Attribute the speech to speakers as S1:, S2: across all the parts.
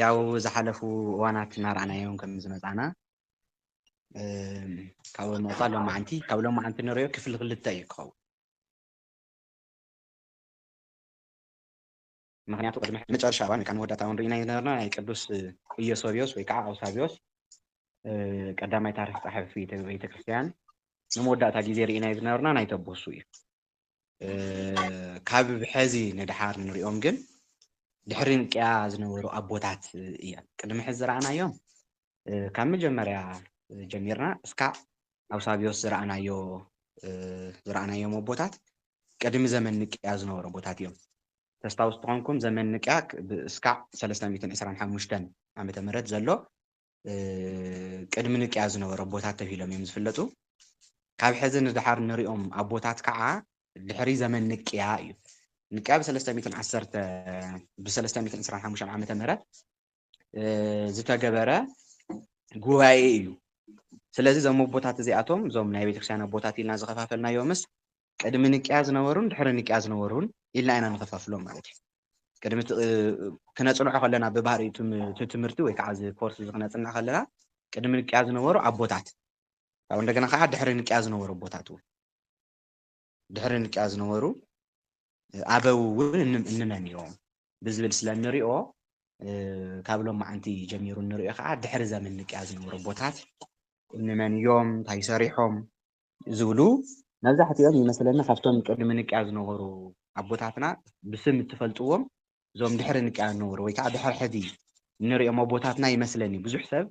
S1: ያው ዝሓለፉ እዋናት እናረኣናዮም ከም ዝመፃና ካብ መፃ ሎማዓንቲ ካብ ሎማዓንቲ ንሪኦ ክፍሊ ክልተ እዩ ክኸውን ምክንያቱ ቅድሚ መጨረሻ እዋን ወይ ከዓ መወዳእታ እዋን ርኢና ዝነበርና ናይ ቅዱስ ኢዮሶብዮስ ወይ ከዓ ኣውሳብዮስ ቀዳማይ ታሪክ ፀሓፊ ቤተክርስትያን ንመወዳእታ ግዜ ርኢና ዝነበርና ናይ ተቦሱ እዩ ካብ ሕዚ ንድሓር ንሪኦም ግን ድሕሪ ንቅያ ዝነበሩ ኣቦታት እዮም ቅድሚ ሕዚ ዝረኣናዮም ካብ መጀመርያ ጀሚርና እስካዕ ኣብ ሳብዮስ ዝረኣናዮ ዝረኣናዮም ኣቦታት ቅድሚ ዘመን ንቅያ ዝነበሩ ኣቦታት እዮም ተስታውስ ትኾንኩም ዘመን ንቅያ እስካዕ 325 ዓመተ ምህረት ዘሎ ቅድሚ ንቅያ ዝነበሩ ኣቦታት ተብሂሎም እዮም ዝፍለጡ። ካብ ሕዚ ንደሓር ንሪኦም ኣቦታት ከዓ ድሕሪ ዘመን ንቅያ እዩ። ንቅያ ብ325 ዓመተ ምህረት ዝተገበረ ጉባኤ እዩ። ስለዚ እዞም ኣቦታት እዚኣቶም እዞም ናይ ቤተክርስቲያን ኣቦታት ኢልና ዝኸፋፈልናዮምስ ቅድሚ ንቅያ ዝነበሩን ድሕሪ ንቅያ ዝነበሩን ኢልና ኢና ንኸፋፍሎም ማለት እዩ። ቅድሚ ክነጽንዖ ከለና ብባህሪ እቲ ትምህርቲ ወይ ከዓ እዚ ኮርስ እዚ ክነጽንዕ ከለና ቅድሚ ንቅያ ዝነበሩ ኣቦታት ካብ እንደገና ከዓ ድሕሪ ንቅያ ዝነበሩ ኣቦታት እውን ድሕሪ ንቅያ ዝነበሩ ኣበው እውን እንመን እዮም ብዝብል ስለ እንሪኦ ካብ ሎማዓንቲ ጀሚሩ እንሪኦ ከዓ ድሕሪ ዘመን ንቅያ ዝነበሩ ኣቦታት እንመን እዮም እንታይ ሰሪሖም ዝብሉ መብዛሕቲኦም ይመስለኒ ካብቶም ቅድሚ ንቅያ ዝነበሩ ኣቦታትና ብስም እትፈልጥዎም እዞም ድሕሪ ንቅያ ዝነበሩ ወይ ከዓ ድሕሪ ሕዚ እንሪኦም ኣቦታትና ይመስለኒ ብዙሕ ሰብ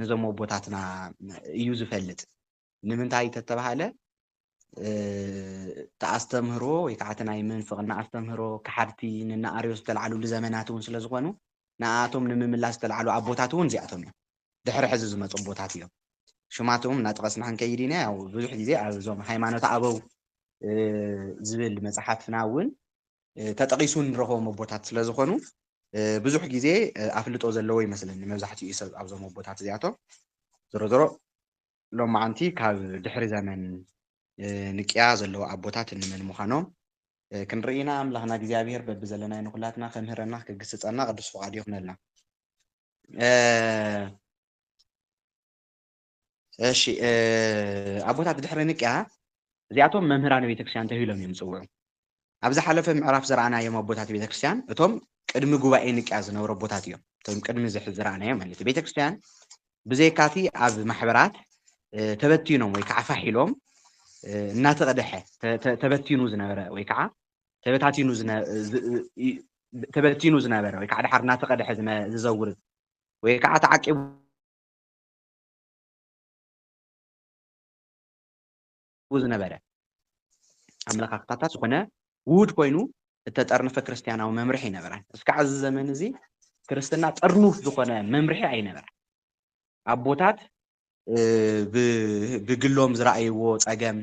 S1: ነዞም ኣቦታትና እዩ ዝፈልጥ ንምንታይ ተተባሃለ ተኣስተምህሮ ወይ ከዓ እቲ ናይ ምንፍቕና ኣስተምህሮ ክሓድቲ ንናኣርዮስ ዝተላዓሉሉ ዘመናት እውን ስለ ዝኾኑ ንኣቶም ንምምላስ ዝተላዓሉ ኣቦታት እውን እዚኣቶም እዮም ድሕሪ ሕዚ ዝመጹ ኣቦታት እዮም ሽማቶም እናጠቐስና ክንከይድ ኢና ያው ብዙሕ ግዜ ኣብ እዞም ሃይማኖት ኣበው ዝብል መጽሓፍና እውን ተጠቒሱ ንረኽቦም ኣቦታት ስለ ዝኾኑ ብዙሕ ግዜ ኣፍልጦ ዘለዎ ይመስለኒ መብዛሕትኡ ሰብ ኣብዞም ኣቦታት እዚኣቶም ዞሮ ዞሮ ሎማዓንቲ ካብ ድሕሪ ዘመን ንቅያ ዘለዎ ኣቦታት እንመን ምዃኖም ክንርኢ ኢና ኣምላኽና እግዚኣብሄር በቢ ዘለናይ ንኹላትና ከምህረና ክግስጸና ቅዱስ ፍቓዱ ይኹነልና እሺ ኣቦታት ድሕሪ ንቅያ እዚኣቶም መምህራን ቤተክርስቲያን ተብሂሎም እዮም ዝፅውዑ። ኣብ ዝሓለፈ ምዕራፍ ዝረኣናዮም ኣቦታት ቤተክርስቲያን እቶም ቅድሚ ጉባኤ ንቅያ ዝነበሩ ኣቦታት እዮም። እቶም ቅድሚ እዚ ሕዚ ዝረኣናዮም ማለት እዩ። ቤተክርስቲያን ብዘይካቲ ኣብ ማሕበራት ተበቲኖም ወይ ከዓ ፋሕ ኢሎም እናተቐደሐ ተበቲኑ ዝነበረ ወይ ከዓ ተበታቲኑ ተበቲኑ ዝነበረ ወይ ከዓ ድሓር እናተቐድሐ ዝዘውር ወይ ከዓ ተዓቂቡ ዝነበረ ኣመለኻኽታታት ዝኾነ ውሁድ ኮይኑ እተጠርነፈ ክርስትያናዊ መምርሒ ይነበራን እስካዕ እዚ ዘመን እዚ ክርስትና ጥርኑፍ ዝኾነ መምርሒ ኣይነበራን ኣቦታት ብግሎም ዝረኣይዎ ፀገም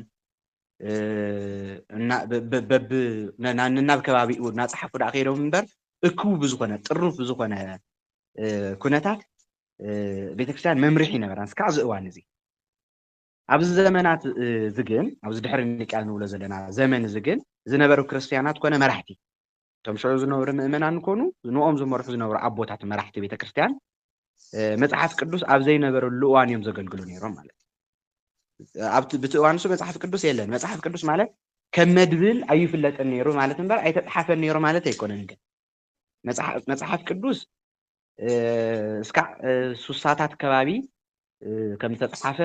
S1: ነናብ ከባቢኡ እናፀሓፉ ዳኣ ከይዶም እምበር እኩብ ብዝኾነ ጥሩፍ ብዝኾነ ኩነታት ቤተክርስትያን መምርሒ ነበራን እስካዕ እዚ እዋን እዚ ኣብዚ ዘመናት እዚ ግን ኣብዚ ድሕሪ ንቅያ ንብሎ ዘለና ዘመን እዚ ግን ዝነበሩ ክርስትያናት ኮነ መራሕቲ እቶም ሽዑ ዝነበሩ ምእመናን ኮኑ ንኦም ዝመርሑ ዝነበሩ ኣቦታት መራሕቲ ቤተ ክርስቲያን መጽሓፍ ቅዱስ ኣብ ዘይነበረሉ እዋን እዮም ዘገልግሉ ነይሮም ማለት እዩ። ኣብቲ ብቲ እዋን እሱ መጽሓፍ ቅዱስ የለን። መጽሓፍ ቅዱስ ማለት ከም መድብል ኣይፍለጥን ነይሩ ማለት እምበር ኣይተጽሓፈን ነይሩ ማለት ኣይኮነን። ግን መጽሓፍ ቅዱስ እስካዕ ሱሳታት ከባቢ ከም ዝተጽሓፈ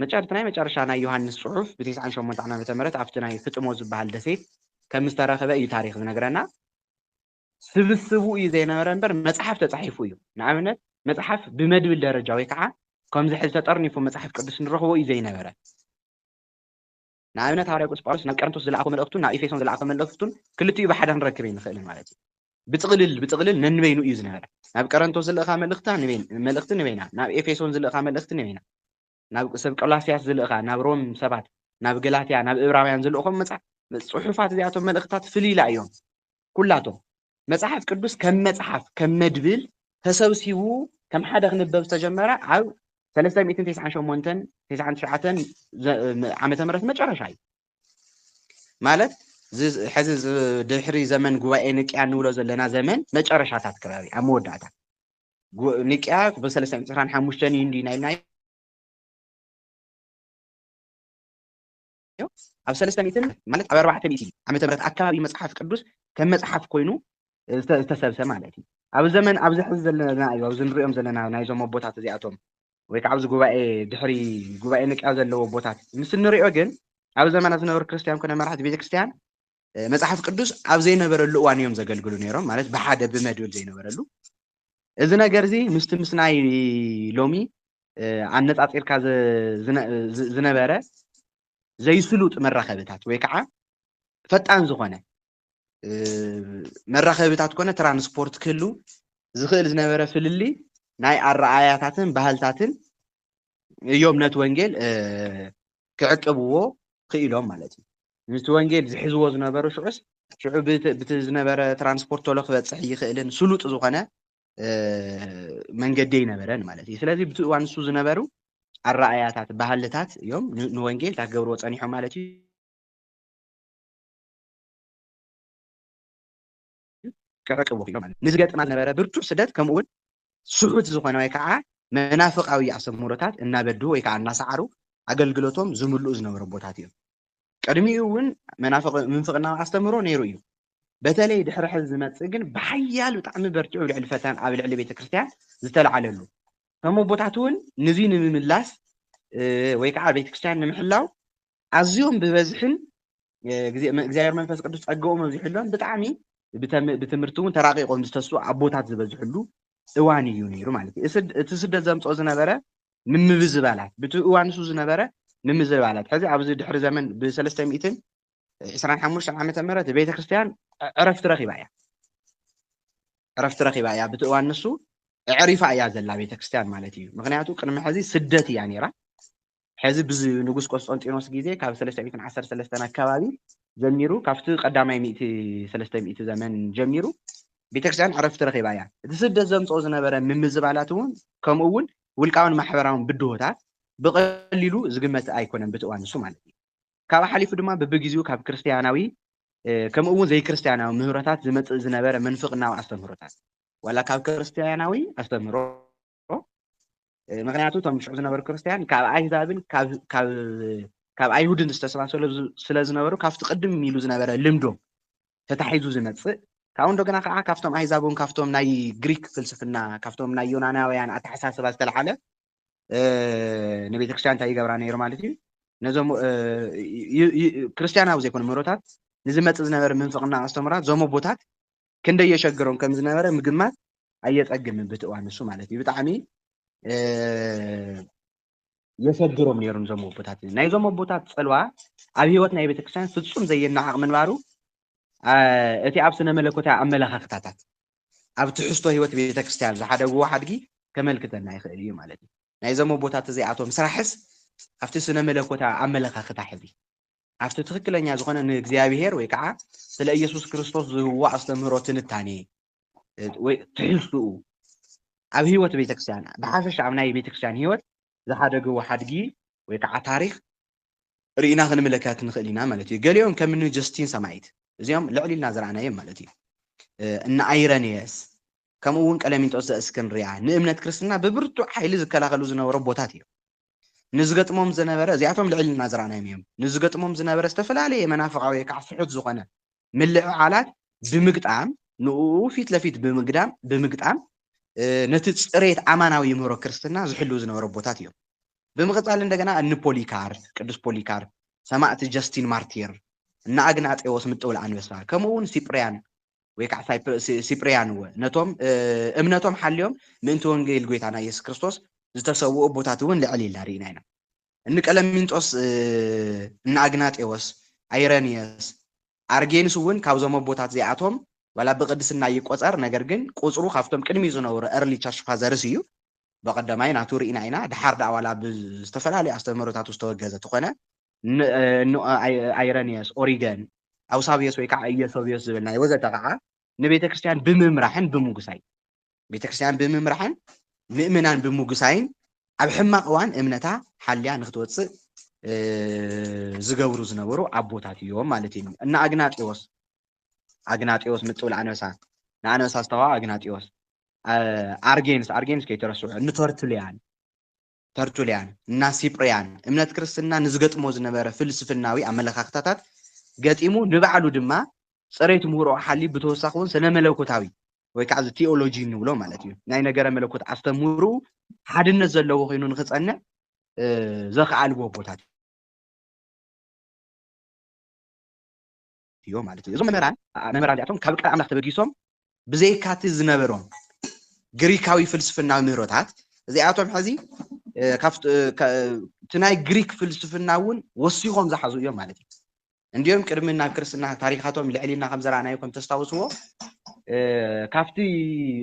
S1: መጨርቲ ናይ መጨረሻ ናይ ዮሃንስ ጽሑፍ ብትስዓን ሸሞንተ ዓመተ ምህረት ኣብቲ ናይ ፍጥሞ ዝበሃል ደሴት ከም ዝተረኽበ እዩ ታሪክ ዝነግረና። ስብስቡ እዩ ዘይነበረ እምበር መጽሓፍ ተጻሒፉ እዩ። ንኣብነት መጽሓፍ ብመድብል ደረጃ ወይ ከዓ ከምዚ ሕዚ ተጠርኒፉ መጽሓፍ ቅዱስ ንረኽቦ እዩ ዘይነበረ። ንኣብነት ሃዋርያ ቅዱስ ጳውሎስ ናብ ቀረንቶስ ዝለኣኾ መልእኽቱን ናብ ኤፌሶን ዝለኣኾ መልእኽቱን ክልቲኡ ብሓደ ክንረክብ ኣይንኽእልን ማለት እዩ። ብጥቕልል ብጥቕልል ነንበይኑ እዩ ዝነበረ። ናብ ቀረንቶስ ዝልእኻ መልእኽታ መልእኽቲ ንበይና፣ ናብ ኤፌሶን ዝልእኻ መልእኽቲ ንበይና፣ ናብ ሰብ ቆላስያስ ዝልእኻ፣ ናብ ሮም ሰባት፣ ናብ ገላትያ፣ ናብ እብራውያን ዝልእኾም መጽሓፍ ጽሑፋት እዚኣቶም መልእኽታት ፍልይላ እዮም። ኩላቶም መጽሓፍ ቅዱስ ከም መጽሓፍ ከም መድብል ተሰብሲቡ ከም ሓደ ክንበብ ዝተጀመረ ኣብ ሰለስተ ሚእትን ተስዓን ሸሞንተን ተስዓን ትሽዓተን ዘ- ም- ዓመተ ምህረት መጨረሻ እዩ ማለት ዝ- ሕዚ ዝ- ድሕሪ ዘመን ጉባኤ ንቅያ እንብሎ ዘለና ዘመን መጨረሻታት ከባቢ ኣብ መወዳእታ ጉ- ንቅያ ብሰለስተ ሚእትን ዕስራን ሓሙሽተን እዩ እንዲና ኢልና እንተኾይኑ ኣብ ሰለስተ ሚእትን ማለት ኣብ ኣርባዕተ ሚእቲ ዓመተ ምህረት ኣከባቢ እዩ መጽሓፍ ቅዱስ ከም መጽሓፍ ኮይኑ ዝተ- ዝተሰብሰ ማለት እዩ ኣብ ዘመን ኣብዚ ሕዚ ዘለና እዩ ኣብዚ ንሪኦም ዘለና ናይዞም ኣቦታት እዚኣቶም ወይ ከዓ ኣብዚ ጉባኤ ድሕሪ ጉባኤ ንቅያ ዘለዎ ኣቦታት ምስ እንሪኦ ግን ኣብ ዘመና ዝነበሩ ክርስትያን ኮነ መራሕቲ ቤተክርስትያን መጽሓፍ ቅዱስ ኣብ ዘይነበረሉ እዋን እዮም ዘገልግሉ ነይሮም ማለት ብሓደ ብመድብል ዘይነበረሉ እዚ ነገር እዚ ምስቲ ምስ ናይ ሎሚ ኣነፃፂርካ ዝነበረ ዘይስሉጥ መራኸብታት ወይ ከዓ ፈጣን ዝኾነ መራኸብታት ኮነ ትራንስፖርት ክህሉ ዝኽእል ዝነበረ ፍልልይ ናይ ኣረኣያታትን ባህልታትን እዮም ነቲ ወንጌል ክዕቅብዎ ክኢሎም ማለት እዩ ንቲ ወንጌል ዝሕዝዎ ዝነበሩ ሽዑስ ሽዑ ብቲ ዝነበረ ትራንስፖርት ቶሎ ክበፅሕ ይኽእልን ስሉጥ ዝኾነ መንገዲ ይነበረን ማለት እዩ ስለዚ ብቲ እዋን ንሱ ዝነበሩ ኣረኣያታት ባህልታት እዮም ንወንጌል እታ ክገብርዎ ፀኒሖም ማለት እዩ ክዕቅቡ ክኢሎም ማለት እዩ። ንዝገጥማ ዝነበረ ብርቱዕ ስደት ከምኡ'ውን ስሑት ዝኾነ ወይ ከዓ መናፍቓዊ ኣሰምሮታት እናበድሁ ወይ ከዓ እናሰዓሩ ኣገልግሎቶም ዝምልኡ ዝነበሩ ኣቦታት እዮም። ቅድሚኡ እውን መናፍቕ ምንፍቕናዊ ኣስተምህሮ ነይሩ እዩ። በተለይ ድሕሪ ሕዚ ዝመጽእ ግን ብሓያል ብጣዕሚ በርቲዑ ልዕሊ ፈተን ኣብ ልዕሊ ቤተ ክርስቲያን ዝተልዓለሉ እቶም ኣቦታት እውን ንዙይ ንምምላስ ወይ ከዓ ቤተ ክርስቲያን ንምሕላው ኣዝዮም ብበዝሒን እግዚኣብሔር መንፈስ ቅዱስ ጸገኦም ኣብዚሕሎም ብጣዕሚ ብትምህርቲ እውን ተራቂቆም ዝተስኡ ኣቦታት ዝበዝሕሉ እዋን እዩ ነይሩ ማለት እዩ እቲ ስደት ዘምፅኦ ዝነበረ ምምብዝባላት ብቲ እዋን ንሱ ዝነበረ ምምዝባላት ሕዚ ኣብዚ ድሕሪ ዘመን ብሰለስተ ሚእትን ዕስራን ሓሙሽተን ዓመተ ምህረት ቤተ ክርስቲያን ዕረፍቲ ረኺባ እያ ዕረፍቲ ረኺባ እያ ብቲ እዋን ንሱ ዕሪፋ እያ ዘላ ቤተ ክርስቲያን ማለት እዩ ምክንያቱ ቅድሚ ሕዚ ስደት እያ ነይራ ሐዚ ብዝ ንጉስ ቆስጠንጢኖስ ግዜ ካብ ሰለስተ ሚእትን ዓሰርተ ሰለስተን ኣከባቢ ጀሚሩ ካብቲ ቀዳማይ ሚእቲ ሰለስተ ሚእቲ ዘመን ጀሚሩ ቤተክርስቲያን ዕረፍቲ ረኺባ እያ። እቲ ስደት ዘምጽኦ ዝነበረ ምምዝባላት እውን ከምኡ እውን ውልቃውን ማሕበራውን ብድሆታት ብቐሊሉ ዝግመት ኣይኮነን ብቲ እዋን ንሱ ማለት እዩ። ካብኡ ሓሊፉ ድማ ብብግዚኡ ካብ ክርስቲያናዊ ከምኡ እውን ዘይክርስቲያናዊ ምህሮታት ዝመጽእ ዝነበረ ምንፍቕናዊ ኣስተምህሮታት ዋላ ካብ ክርስቲያናዊ ኣስተምህሮ ዝነበሮ። ምኽንያቱ እቶም ሽዑ ዝነበሩ ክርስትያን ካብ ኣይሁዳብን ካብ ኣይሁድን ዝተሰባሰሉ ስለ ዝነበሩ ካብቲ ቅድም ኢሉ ዝነበረ ልምዶም ተታሒዙ ዝመጽእ ካብኡ እንደገና ከዓ ካብቶም ኣህዛብ እውን ካብቶም ናይ ግሪክ ፍልስፍና ካብቶም ናይ ዮናናውያን ኣተሓሳስባ ዝተልዓለ ንቤተ ክርስትያን እንታይ ይገብራ ነይሩ ማለት እዩ ነዞም ክርስትያናዊ ዘይኮኑ ምህሮታት ንዝመፅእ ዝነበረ ምንፍቕና ኣስተምራት ዞም ኣቦታት ክንደይ የሸግሮም ከም ዝነበረ ምግማት ኣየጸግምን ብቲ እዋን ንሱ ማለት እዩ ብጣዕሚ የሰግሮም ነይሮም ዞም ኣቦታት እዚ ናይዞም ኣቦታት ፅልዋ ኣብ ህይወት ናይ ቤተክርስትያን ፍፁም ዘየናዓቕ ምንባሩ እቲ ኣብ ስነ መለኮታዊ ኣመለኻኽታታት ኣብ ትሕዝቶ ህይወት ቤተክርስትያን ዝሓደግዎ ሓድጊ ከመልክተና ይኽእል እዩ ማለት እዩ ናይዞም ኣቦታት እዚኣቶም ስራሕስ ኣብቲ ስነ መለኮታዊ ኣመለኻኽታ ሕዚ ኣብቲ ትኽክለኛ ዝኾነ ንእግዚኣብሔር ወይ ከዓ ስለ ኢየሱስ ክርስቶስ ዝህብዎ ኣስተምህሮ ትንታኔ ወይ ትሕዝትኡ ኣብ ህይወት ቤተክርስቲያን ብሓፈሻ ኣብ ናይ ቤተክርስቲያን ህይወት ዝሓደግዎ ሓድጊ ወይ ከዓ ታሪክ ርኢና ክንምለከት ንኽእል ኢና ማለት እዩ። ገሊኦም ከም እኒ ጀስቲን ሰማዒት እዚኦም ልዕል ኢልና ዝረኣናዮም ማለት እዩ። እነ ኣይረንየስ ከምኡ እውን ቀለሚንጦስ ዘእስክንድርያ ንእምነት ክርስትና ብብርቱዕ ሓይሊ ዝከላኸሉ ዝነበሩ ኣቦታት እዮም። ንዝገጥሞም ዝነበረ እዚኣቶም ልዕል ኢልና ዝረኣናዮም እዮም ንዝገጥሞም ዝነበረ ዝተፈላለየ መናፍቃዊ ወይ ከዓ ፍሑት ዝኾነ ምልዕዓላት ብምግጣም ንኡ ፊት ለፊት ብምግዳም ብምግጣም ነቲ ፅሬት ኣማናዊ ምህሮ ክርስትና ዝሕልው ዝነበረ ቦታት እዮም ብምቕፃል እንደገና እኒ ፖሊካር ቅዱስ ፖሊካር ሰማእቲ ጀስቲን ማርቲር እና ኣግናጤዎስ ምጥውል ኣንበሳ ከምኡ እውን ሲጵርያን ወይ ከዓ ሲጵርያን እወ ነቶም እምነቶም ሓልዮም ምእንቲ ወንጌል ጎይታና ኢየሱስ ክርስቶስ ዝተሰውኡ ኣቦታት እውን ልዕል ኢልና ርኢና ኢና እንቀለሚንጦስ እንኣግናጤዎስ ኣይረንየስ ኣርጌንስ እውን ካብዞም ኣቦታት እዚኣቶም ዋላ ብቅድስና ይቆፀር ነገር ግን ቁፅሩ ካብቶም ቅድሚ ዝነበሩ ኤርሊ ቸርች ፋዘርስ እዩ በቀዳማይ ናቱ ርኢና ኢና ድሓር ዳኣ ዋላ ብዝተፈላለዩ ኣስተምህሮታቱ ዝተወገዘ ተኾነ ንኣይረንዮስ፣ ኦሪገን፣ ኣውሳብዮስ ወይ ከዓ ኢዮሶብዮስ ዝበልናዮ ወዘተ ከዓ ንቤተ ክርስቲያን ብምምራሕን ብምጉሳይ ቤተ ክርስቲያን ብምምራሕን ምእመናን ብምጉሳይን ኣብ ሕማቕ እዋን እምነታ ሓልያ ንክትወፅእ ዝገብሩ ዝነበሩ ኣቦታት እዮም ማለት እዩ እና ኣግናጢዎስ ኣግናጢዎስ ምጥብል ኣንበሳ ንኣንበሳ ዝተዋ ኣግናጢዎስ ኣርጌንስ ኣርጌንስ ከይተረስዑ ንተርትልያን ተርቱልያን እና ሲጵርያን እምነት ክርስትና ንዝገጥሞ ዝነበረ ፍልስፍናዊ ኣመለኻኽታታት ገጢሙ ንባዕሉ ድማ ፅሬት ምህሮኡ ሓልዩ ብተወሳኺ እውን ስነ መለኮታዊ ወይ ከዓ እዚ ቲኦሎጂ እንብሎ ማለት እዩ ናይ ነገረ መለኮት ኣስተምህርኡ ሓድነት ዘለዎ ኮይኑ ንክፀንዕ ዘኽኣልዎ ቦታት እዮም ማለት እዩ። እዞም መምህራን መምህራን እዚኣቶም ካብ ቃል ኣምላኽ ተበጊሶም ብዘይካቲ ዝነበሮም ግሪካዊ ፍልስፍናዊ ምህሮታት እዚኣቶም ሕዚ እቲ ናይ ግሪክ ፍልስፍና እውን ወሲኾም ዝሓዙ እዮም ማለት እዩ እንዲኦም ቅድሚ ናብ ክርስትና ታሪካቶም ልዕሊና ከም ዘረኣናዮ ከም ተስታውስዎ ካብቲ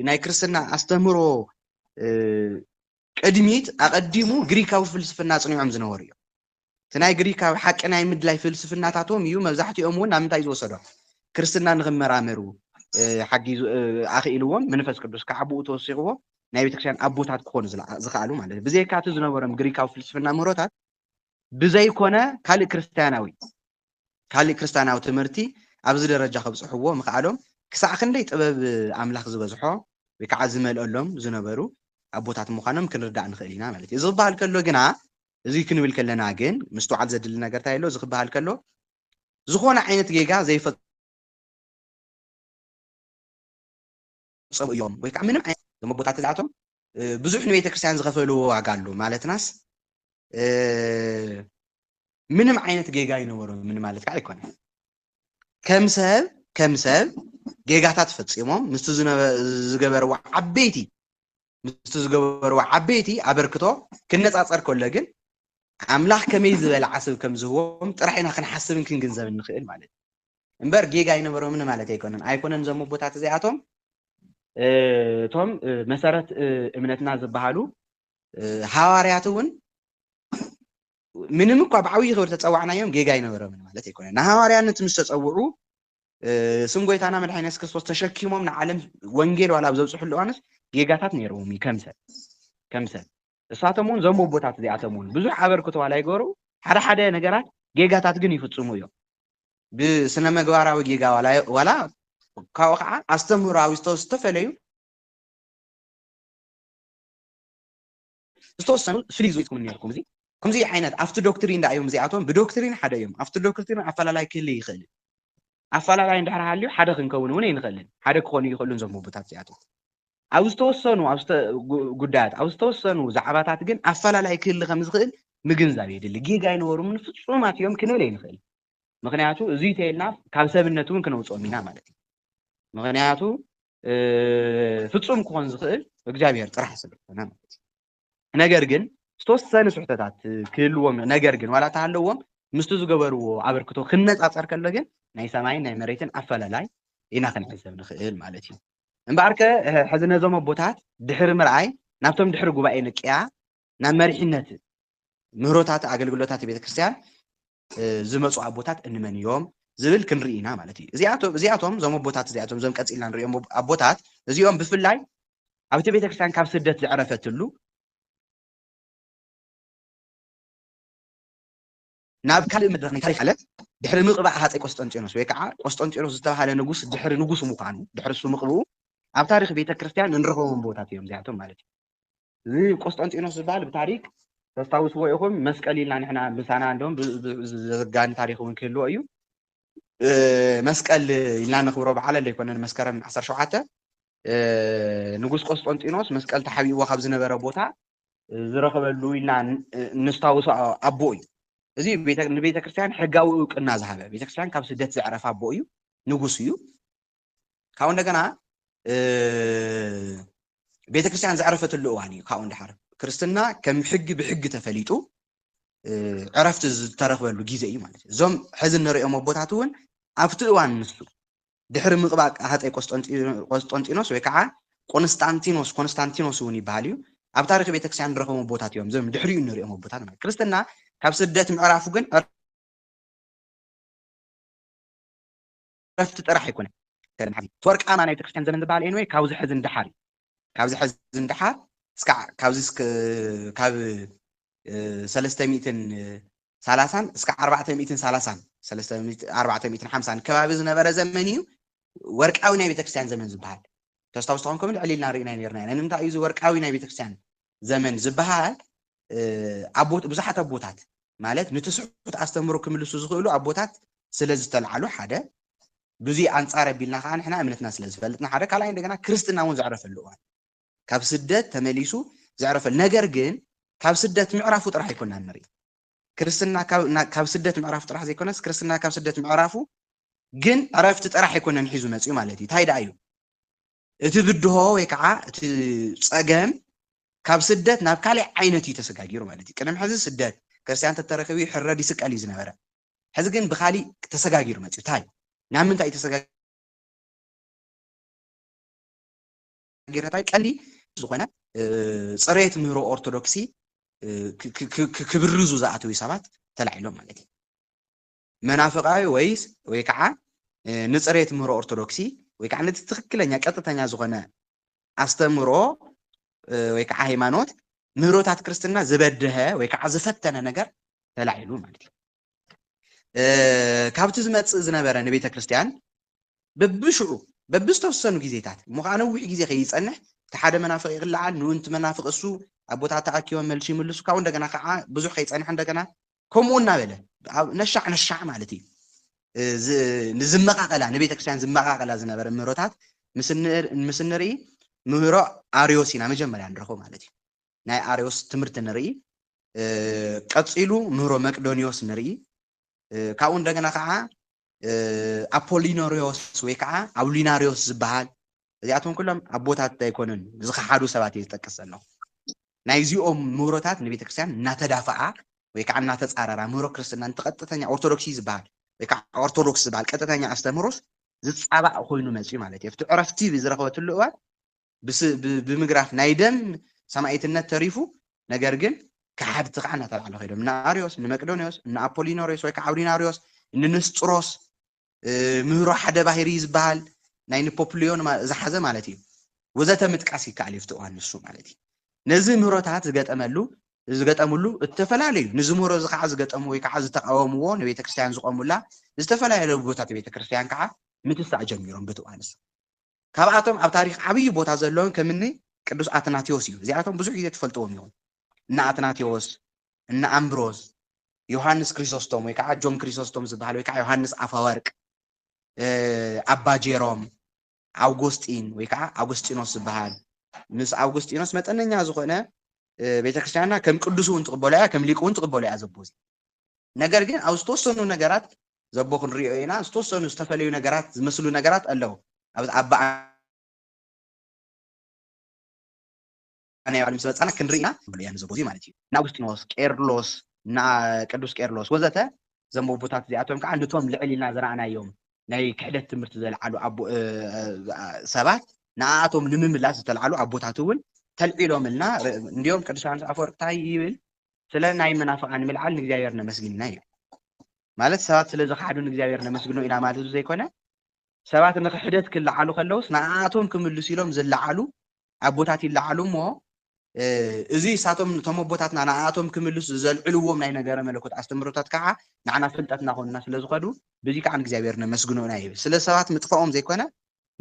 S1: ናይ ክርስትና ኣስተምህሮ ቅድሚት ኣቐዲሙ ግሪካዊ ፍልስፍና ኣፅኒዖም ዝነበሩ እዮም እቲ ናይ ግሪካዊ ሓቂ ናይ ምድላይ ፍልስፍናታቶም እዩ መብዛሕትኦም እውን ናብ ምንታይ ዝወሰዶም ክርስትና ንኽመራመሩ ሓጊዙ ኣኽኢልዎም መንፈስ ቅዱስ ከዓ ብኡ ተወሲኽዎ ናይ ቤተክርስትያን ኣቦታት ክኾኑ ዝኸኣሉ ማለት እዩ ብዘይካ እቲ ዝነበሮም ግሪካዊ ፍልስፍና ምህሮታት ብዘይኮነ ካልእ ክርስትያናዊ ካሊእ ክርስታናዊ ትምህርቲ ኣብዚ ደረጃ ከብጽሕዎ ምኽኣሎም ክሳዕ ክንደይ ጥበብ ኣምላኽ ዝበዝሖ ወይ ካዓ ዝመልኦሎም ዝነበሩ ኣቦታት ምዃኖም ክንርዳእ ንኽእል ኢና ማለት እዩ። እዚ ክበሃል ከሎ ግና እዚ ክንብል ከለና ግን ምስትውዓል ዘድሊ ነገር እንታይ ኣሎ እዚ ክበሃል ከሎ ዝኾነ ዓይነት ጌጋ ዘይፈ ዝፈጸሙ እዮም ወይ ከኣ ምንም ዓይነት መጎታት እዚኣቶም ብዙሕ ንቤተክርስትያን ዝኸፈልዎ ዋጋ ኣሎ ማለትናስ ምንም ዓይነት ጌጋ ይነበሮ ምን ማለት ከዓ ኣይኮነን ከም ሰብ ከም ሰብ ጌጋታት ፈፂሞም ምስቲ ዝገበርዎ ዓበይቲ ምስቲ ዝገበርዎ ዓበይቲ ኣበርክቶ ክነፃፀር ከሎ ግን ኣምላኽ ከመይ ዝበለ ዓስብ ከም ዝህቦም ጥራሕ ኢና ክንሓስብን ክንግንዘብን ንኽእል ማለት እዩ እምበር ጌጋ ኣይነበሮምን ማለት ኣይኮነን። ኣይኮነን እዞም ኣቦታት እዚኣቶም እቶም መሰረት እምነትና ዝበሃሉ ሃዋርያት እውን ምንም እኳ ብዓብዪ ክብሪ ተፀዋዕናዮም ጌጋ ኣይነበሮምን ማለት ኣይኮነን። ንሃዋርያነት ምስ ተፀውዑ ስም ጎይታና መድሓኒና የሱስ ክርስቶስ ተሸኪሞም ንዓለም ወንጌል ዋላ ኣብ ዘብፅሕሉ እዋንስ ጌጋታት ነይርዎም እዩ ከም ሰብ ከም ሰብ እሳቶም እውን እዞም ኣቦታት እዚኣቶም እውን ብዙሕ ኣበርክቶ ዋላ ይገሩ ሓደ ሓደ ነገራት ጌጋታት ግን ይፍፅሙ እዮም። ብስነ መግባራዊ ጌጋ ዋላ ዋላ ካብኡ ከዓ ኣስተምህሮዊ ዝተፈለዩ ዝተወሰኑ ፍልይ ዝወፅኩም ነርኩም እዚ ከምዚ ዓይነት ኣብቲ ዶክትሪን ዳእዮም እዚኣቶም ብዶክትሪን ሓደ እዮም ኣብቲ ዶክትሪን ኣፈላላይ ክህልይ ይኽእል ኣፈላላይ እንድሕር ሃልዩ ሓደ ክንከውን እውን ኣይንኽእልን። ሓደ ክኾኑ ኣይኽእሉን እዞም ህቡታት እዚኣቶም። ኣብ ዝተወሰኑ ጉዳያት፣ ኣብ ዝተወሰኑ ዛዕባታት ግን ኣፈላላይ ክህሊ ከም ዝኽእል ምግንዛብ የድሊ። ጌጋ ኣይነበሩምን ፍጹማት እዮም ክንብል ኣይንኽእልን። ምክንያቱ እዙይ ተይልና ካብ ሰብነት እውን ክነውፅኦም ኢና ማለት እዩ። ምክንያቱ ፍጹም ክኾን ዝኽእል እግዚኣብሔር ጥራሕ ስለዝኾነ ማለት እዩ። ነገር ግን ዝተወሰነ ስሕተታት ክህልዎም ነገር ግን ዋላ ተሃለዎም ምስቲ ዝገበርዎ ኣበርክቶ ክነፃፀር ከሎ ግን ናይ ሰማይን ናይ መሬትን ኣፈላላይ ኢና ክንዕዘብ ንኽእል ማለት እዩ እምበኣር ከ ሕዚ ነዞም ኣቦታት ድሕሪ ምርኣይ ናብቶም ድሕሪ ጉባኤ ንቅያ ናብ መሪሕነት ምህሮታት ኣገልግሎታት ቤተክርስትያን ዝመጹ ኣቦታት እንመን ኢዮም ዝብል ክንርኢ ኢና ማለት ኢዩ። እዚኣቶም እዚኣቶም እዞም ኣቦታት እዚኣቶም እዞም ቀጺልና ንርእዮም ኣቦታት እዚኦም ብፍላይ ኣብቲ ቤተክርስትያን ካብ ስደት ዝዕረፈትሉ ናብ ካልእ መድረኽ ናይ ታሪኽ ዓለም ድሕሪ ምቕባእ ሃፀይ ቆስጠንጢኖስ ወይ ከዓ ቆስጠንጢኖስ ዝተባሃለ ንጉስ ድሕሪ ንጉስ ምዃኑ ድሕሪ እሱ ምቕብኡ ኣብ ታሪኽ ቤተ ክርስቲያን እንረኽቦም ቦታት እዮም እዚኣቶም ማለት እዩ። እዚ ቆስጠንጢኖስ ዝበሃል ብታሪክ ተስታውስዎ ኢኹም መስቀል ኢልና ንሕና ምሳና እንደም ዘጋኒ ታሪክ እውን ክህልዎ እዩ መስቀል ኢልና ነኽብሮ በዓል ዘይኮነን መስከረም 17 ንጉስ ቆስጠንጢኖስ መስቀል ተሓቢእዎ ካብ ዝነበረ ቦታ ዝረኸበሉ ኢልና ንስታውሶ ኣቦ እዩ እዚ ንቤተ ክርስቲያን ሕጋዊ እውቅና ዝሃበ ቤተ ክርስቲያን ካብ ስደት ዘዕረፈ ኣቦ እዩ ንጉስ እዩ ካብኡ እንደገና ቤተክርስትያን ዘዕረፈትሉ እዋን እዩ ካብኡ ንደሓር ክርስትና ከም ሕጊ ብሕጊ ተፈሊጡ ዕረፍቲ ዝተረኽበሉ ግዜ እዩ ማለት እዩ እዞም ሕዚ እንሪኦም ኣቦታት እውን ኣብቲ እዋን ንሱ ድሕሪ ምቕባእ ሃፀይ ቆስጦንጢኖስ ወይ ከዓ ቆንስጣንቲኖስ ኮንስታንቲኖስ እውን ይበሃል እዩ ኣብ ታሪክ ቤተክርስትያን ንረኽቦም ኣቦታት እዮም እዞም ድሕሪኡ እንሪኦም ኣቦታት ማለት ክርስትና ካብ ስደት ምዕራፉ ግን ዕረፍቲ ጥራሕ ኣይኮነን ከደም ሓዚ እቲ ወርቃማ ናይ ቤተክርስትያን ዘመን ዝበሃል ኤንወይ ካብዚ ሕዚ ንደሓር እዩ ካብዚ ሕዚ ንደሓር እስካዕ ካብዚ ካብ ሰለስተ ሚእትን ሳላሳን እስከ ዓርባዕተ ሚእትን ሳላሳን ሰለስተ ዓርባዕተ ሚእትን ሓምሳን ከባቢ ዝነበረ ዘመን እዩ ወርቃዊ ናይ ቤተክርስትያን ዘመን ዝበሃል ተስታውስ ተኾንኩም ልዕል ኢልና ርኢና ነርና ኢና ንምንታይ እዩ እዚ ወርቃዊ ናይ ቤተክርስትያን ዘመን ዝበሃል ብዙሓት ኣቦታት ማለት ንትስሑት ኣስተምህሮ ክምልሱ ዝኽእሉ ኣቦታት ስለ ዝተልዓሉ ሓደ ብዙይ ኣንጻር ኣቢልና ከዓ ንሕና እምነትና ስለ ዝፈልጥና ሓደ ካልኣይ እንደገና ክርስትና እውን ዘዕረፈሉ እዋን ካብ ስደት ተመሊሱ ዘዕረፈሉ ነገር ግን ካብ ስደት ምዕራፉ ጥራሕ ኣይኮና ንርኢ ክርስትና ካብ ስደት ምዕራፉ ጥራሕ ዘይኮነስ ክርስትና ካብ ስደት ምዕራፉ ግን ዕረፍቲ ጥራሕ ኣይኮነን ሒዙ መፅኡ ማለት እዩ እንታይ ደኣ እዩ እቲ ብድሆ ወይ ከዓ እቲ ፀገም ካብ ስደት ናብ ካሊእ ዓይነት እዩ ተሰጋጊሩ ማለት እዩ። ቅድም ሕዚ ስደት ክርስቲያን ተተረኪቡ ይሕረድ ይስቀል እዩ ዝነበረ። ሕዚ ግን ብካሊእ ተሰጋጊሩ መፅዩ ታይ ናብ ምንታይ እዩ ተሰጋጊሩ ታይ ቀሊ ዝኾነ ፅሬት ምህሮ ኦርቶዶክሲ ክብርዙ ዝኣተው ሰባት ተላዒሎም ማለት እዩ። መናፍቃዊ ወይስ ወይ ከዓ ንፅሬ ትምህሮ ኦርቶዶክሲ ወይ ከዓ ነቲ ትክክለኛ ቀጥተኛ ዝኾነ ኣስተምህሮ ወይ ከዓ ሃይማኖት ምህሮታት ክርስትና ዝበደሀ ወይ ከዓ ዝፈተነ ነገር ተላዒሉ ማለት እዩ ካብቲ ዝመፅእ ዝነበረ ንቤተ ክርስቲያን በብሽዑ በብዝተወሰኑ ግዜታት እሞ ከዓ ነዊሕ ግዜ ከይፀንሕ እቲ ሓደ መናፍቅ ይቅልዓል ንኡንቲ መናፍቅ እሱ ኣብ ቦታ ተኣኪቦም መልሲ ይምልሱ ካብኡ እንደገና ከዓ ብዙሕ ከይፀንሐ እንደገና ከምኡ እናበለ ነሻዕ ነሻዕ ማለት እዩ ንዝመቃቀላ ንቤተ ክርስቲያን ዝመቃቀላ ዝነበረ ምህሮታት ምስ እንርኢ ምህሮ ኣርዮስ ኢና መጀመርያ ንረኽቦ ማለት እዩ ናይ ኣርዮስ ትምህርቲ ንርኢ ቀፂሉ ምህሮ መቅዶኒዎስ ንርኢ ካብኡ እንደገና ከዓ ኣፖሊኖሪዎስ ወይ ከዓ ኣውሊናሪዎስ ዝበሃል እዚኣቶም ኩሎም ኣቦታት ኣይኮነን ዝኸሓዱ ሰባት እየ ዝጠቅስ ዘለኹ ናይዚኦም ምህሮታት ንቤተ ክርስትያን እናተዳፈኣ ወይ ከዓ እናተፃረራ ምህሮ ክርስትና ንቲ ቀጥተኛ ኦርቶዶክሲ ዝበሃል ወይ ከዓ ኦርቶዶክስ ዝበሃል ቀጥተኛ ኣስተምህሮስ ዝፃባእ ኮይኑ መፅዩ ማለት እዩ ኣብቲ ዕረፍቲ ብዝረኸበትሉ እዋን ብምግራፍ ናይ ደም ሰማኢትነት ተሪፉ ነገር ግን ከሓድቲ ከዓ እናተባዕለ ኮይዶም እነ ኣርዮስ እነ መቅዶኒዎስ እነ ኣፖሊኖሪዎስ ወይ ከዓ ኣውዲናሪዎስ እነ ንስጥሮስ ምህሮ ሓደ ባህሪ ዝበሃል ናይ ንፖፕልዮን ዝሓዘ ማለት እዩ ወዘተ ምጥቃስ ይከኣል እዩ ፍትዋን ንሱ ማለት እዩ ነዚ ምህሮታት ዝገጠመሉ ዝገጠምሉ እተፈላለዩ ንዝምህሮ እዚ ከዓ ዝገጠሙ ወይ ከዓ ዝተቃወምዎ ንቤተ ክርስትያን ዝቆሙላ ዝተፈላለዩ ቦታት ቤተ ክርስትያን ከዓ ምትሳእ ጀሚሮም ብትዋንስ ካብኣቶም ኣብ ታሪኽ ዓብዪ ቦታ ዘለዎም ከም እኒ ቅዱስ ኣትናቴዎስ እዮም። እዚኣቶም ብዙሕ ግዜ ትፈልጥዎም ኢኹም። እነ ኣትናቴዎስ፣ እነ ኣምብሮዝ፣ ዮሃንስ ክሪሶስቶም ወይ ከዓ ጆን ክሪሶስቶም ዝበሃል ወይ ከዓ ዮሃንስ ኣፈወርቅ፣ ኣባ ጄሮም፣ ኣውጎስጢን ወይ ከዓ ኣውጉስጢኖስ ዝበሃል ምስ ኣውጉስጢኖስ መጠነኛ ዝኾነ ቤተክርስቲያንና ከም ቅዱስ እውን ትቕበሎ እያ፣ ከም ሊቅ እውን ትቕበሎ እያ ዘቦ እዚ። ነገር ግን ኣብ ዝተወሰኑ ነገራት ዘቦ ክንሪኦ ኢና ዝተወሰኑ ዝተፈለዩ ነገራት ዝመስሉ ነገራት ኣለው ኣብ በዓል ናይ ባዕሉ ምስ በፃና ክንርኢ ኢና እያ ንዘቦ እዚ ማለት እዩ ንኣውግስጢኖስ ቄርሎስ ቅዱስ ቄርሎስ ወዘተ እዞም ኣቦታት እዚኣቶም ከዓ ንቶም ልዕል ኢልና ዝረኣናዮም ናይ ክሕደት ትምህርቲ ዘልዓሉ ሰባት ንኣኣቶም ንምምላስ ዝተልዓሉ ኣቦታት እውን ተልዒሎምልና እንዲኦም ቅዱስ ዮሃንስ ኣፈወርቅ እንታይ ይብል ስለ ናይ መናፍቃን ምልዓል ንእግዚኣብሔር ነመስግንና እዩ ማለት ሰባት ስለ ዝኸሓዱ ንእግዚኣብሔር ነመስግኖ ኢና ማለት ዘይኮነ ሰባት ንክሕደት ክለዓሉ ከለውስ ንኣኣቶም ክምልሱ ኢሎም ዝለዓሉ ኣቦታት ይለዓሉ እሞ እዚ እሳቶም እቶም ኣቦታትና ንኣኣቶም ክምልሱ ዘልዕልዎም ናይ ነገረ መለኮት ኣስተምህሮታት ከዓ ንዓና ፍልጠትና ኮንና ስለ ዝኸዱ በዚ ከዓ ንእግዚኣብሔር ነመስግኖ ኢና ይብል ስለ ሰባት ምጥፋኦም ዘይኮነ